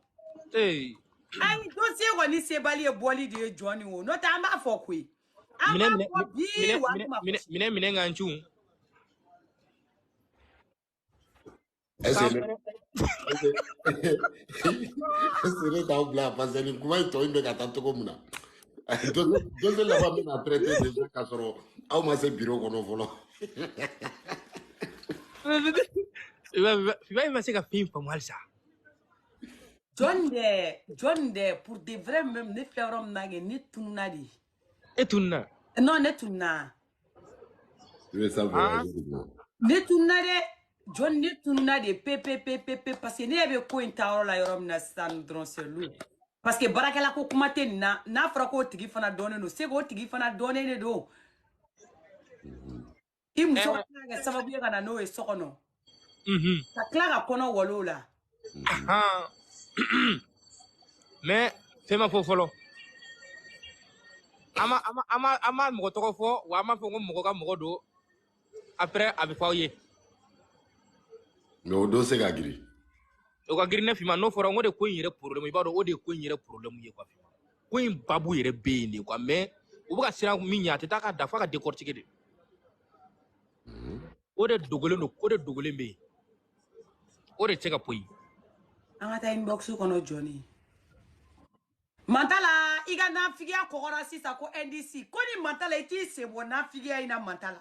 ee an dossier kɔni sebali ye boli de ye Jɔnni wo n'o tɛ an b'a fɔ koyi an b'a fɔ bi wa an tuma minɛ minɛ ka n cun Ese le, ese, ese le da un bla, parce que ni kuma in tɔ in bɛ ka taa cogo min na. dossier laban bɛna traité déjà k'a sɔrɔ aw ma se bureau kɔnɔ fɔlɔ. Fima e ma se ka fɛn faamu halisa. Jɔn de jɔn de pour de vrai même ne filɛ yɔrɔ min na kɛ ne tununna dɛ. e tununna non ne tununna i bɛ sa Ah. ne tununna dɛ jɔni ne tununna dɛ pepepepepe parce que ne yɛrɛ bɛ ko in ta yɔrɔ la yɔrɔ min na sisan dɔrɔn c'est lourd parce que baarakɛla ko kuma tɛ nin na n'a fɔra k'o tigi fana dɔnnen don c'est k'o tigi fana dɔnnen de don i muso ka tila ka kɛ sababu ye ka na n'o ye so kɔnɔ ka tila ka kɔnɔ walon a la mais fɛn ma fɔ fɔlɔ an ma an ma an ma an ma mɔgɔ tɔgɔ fɔ wa an m'a fɔ ko mɔgɔ ka mɔgɔ don après a bɛ fɔ aw ye mais o dossier ka girin o ka girin ne fima n'o fɔra n ko de ko in yɛrɛ problème i b'a dɔn o de ye ko in yɛrɛ problème ye quoi ko in babu yɛrɛ bɛ yen de quoi mais u bɛ ka siran min ɲɛ a tɛ taa ka da f'a ka décortiquer de o de dogolen don ko de dogolen bɛ yen o de tɛ se ka poyi an ka taa inbox kɔnɔ jɔni mantala i ka nafigiya kɔgɔra sisan ko ndc ko ni mantala i t'i sen bɔ nafigiya in na mantala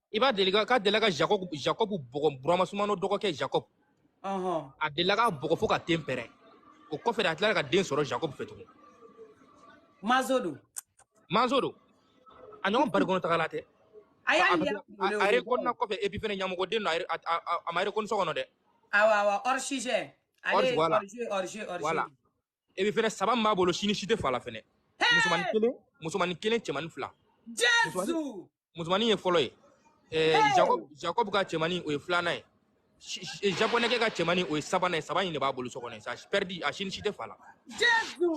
i b'a dɔn k'a delila ka jacob jacob bugɔ burama sumano dɔgɔkɛ jacob a delila k'a bugɔ fo k'a ten pɛrɛn o kɔfɛ de a tilara ka den sɔrɔ jacob fɛ tugun mazo don mazo don a ɲɔgɔn bari kɔnɔ tagala tɛ a y'a a rekɔnina kɔfɛ epi fɛnɛ ɲamɔgɔden don a ma rekɔni so kɔnɔ dɛ awa awa hors sujet allez hors voilà epi fɛnɛ saba min b'a bolo si ni si tɛ fa la fɛnɛ musomanin kelen musomanin kelen cɛmanin fila jesu musomanin ye fɔlɔ ye ɛɛ jacob jacob ka cɛmanin o ye filanan ye Si- si- japonɛkɛ ka cɛmanin o ye sabanan ye saba in de b'a bolo so kɔnɔ ça veut dire a si ni si tɛ fa la jesu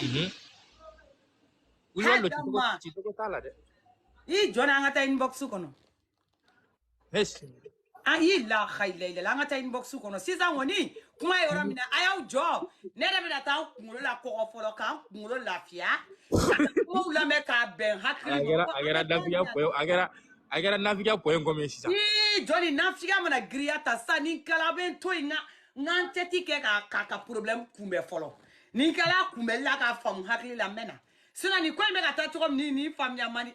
Mhm. Wuli wali don, Hadama. cicogo- cicogo t'a la dɛ i jɔ na an ka taa inbox kɔnɔ Yes. an y'i la hayilayilala an ka taa inbox kɔnɔ sisan kɔni kuma ye yɔrɔ min na a y'aw jɔ ne yɛrɛ bɛna taa n kunkolo la kɔgɔ fɔlɔ ka n kunkolo lafiya ka na kumaw lamɛn k'a bɛn hakili A ma kɛra mɔgɔ a kana kɛra taa ni nafigiya pɔye a kɛra a kɛra nafigiya pɔye kɔmi ye sisan. Ii, jɔni nafigiya mana girinya ta sisan ni n kala bɛ n to yen n ka n ka n tɛti kɛ k'a k'a ka problème kunbɛn fɔlɔ ni n kala kunbɛli la k'a faamu hakili la n bɛ na sisan nin ko in bɛ ka taa cogo min ni nin faamuya man di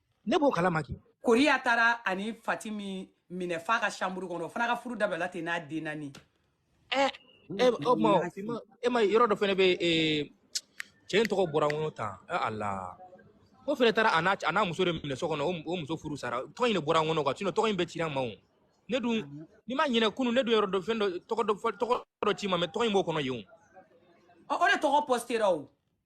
ne b'o kalama ki koriya taara a ni fati min minɛ f'a ka chambre kɔnɔ o fana ka furu dabilala ten n'a den naani eh, eh, o ma e ma yɔrɔ dɔ fɛnɛ bɛ eh, cɛ in tɔgɔ bɔra n kɔnɔ tan ala ko fɛnɛ taara a n'a muso de minɛ so kɔnɔ o muso furu sara tɔgɔ in de bɔra n kɔnɔ kan tɔgɔ in bɛɛ cira n ma o ne dun n'i ma ɲinɛ kunu ne dun yɔrɔ dɔ fɛn dɔ tɔgɔ dɔ tɔgɔ dɔ ci i ma mais tɔgɔ in b'o kɔnɔ yen o o de tɔgɔ pɔsitera o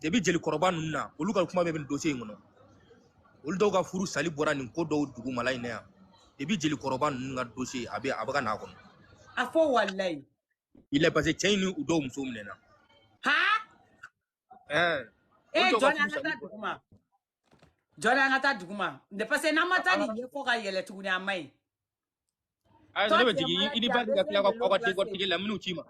debi jelikɔrɔba ninnu na olu ka kuma bɛ nin dossier in kɔnɔ olu dɔw ka furu sali bɔra nin ko dɔw dugumala in na yan debi jelikɔrɔba ninnu ka dossier a bɛ a bɛ ka n'a kɔnɔ a fɔ walilayi il est parce que cɛ in ni u dɔw muso minɛna ha ɛɛ ee jɔn an ka taa duguma jɔni an ka taa duguma parce que n'an ma taa nin ye ko ka yɛlɛ tuguni a man ɲi ayiwa ne bɛ jigin i ni ba ka tila ka kɔ ka den kɔtigi la minnu ci n ma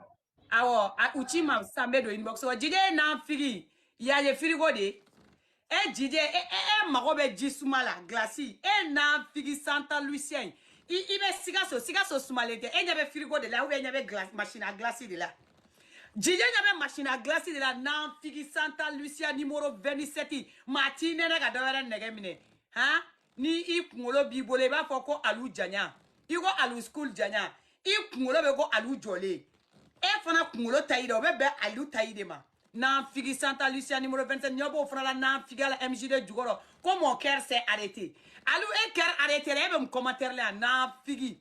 awɔ u ci n ma sisan n bɛ don inbox kɔnɔ jide ye nanfigi y'a ye firigo de ye e jide e e e mago bɛ ji suma la gilasi e nanfigi santa lucien i i bɛ sikaso sikaso sumalen tɛ e ɲɛ bɛ firigo de la ou bien e ɲɛ bɛ gilasi machine à glace de la jijɛ ɲɛ bɛ machine à glace de la nanfigi santa lucia numéro 27 maa t'i nɛnɛ ka dɔ wɛrɛ nege minɛ han ni i kunkolo b'i bolo i b'a fɔ ko alu janya i ko alu school janya i kunkolo bɛ ko alu jɔlen e fana kunkolo taille dɛ o bɛ bɛn alu taille de ma nanfigi santa lucia numéro 27 ɲɛ b'o fana la nanfigiya la mgd jukɔrɔ ko mon cœur s'est arrêté alu e cœur arrêté la e bɛ mun commentaire la yan nanfigi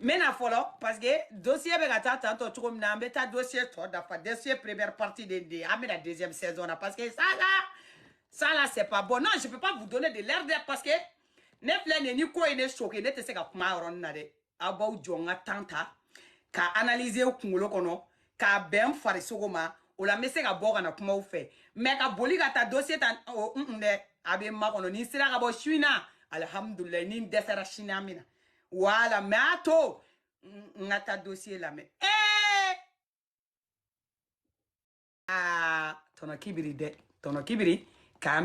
n bɛna fɔlɔ parce que dossier bɛ ka taa tantɔ cogo min na an bɛ taa dossier tɔ dafa dossier première partie de de an bɛ na deuxième saison na parce que ça là ça là c'est pas bon non je peux pas vous donner de l'air de parce que ne filɛ nin ye ni ko ye ne choqué ne tɛ se ka kuma a yɔrɔnin na dɛ aw b'aw jɔ n ka temps ta ka analyser kunkolo kɔnɔ k'a bɛn n farisogo ma o la n bɛ se ka bɔ ka na kuma aw fɛ mais ka boli ka taa dossier ta o de a bɛ n makɔnɔ ni n sera ka bɔ su in na alihamudulilayi ni n dɛsɛra sini an bɛ na voilà mais a to n ka taa dossier lamɛn ee aa tɔnɔ kibiri dɛ tɔnɔ kibiri k'an bɛ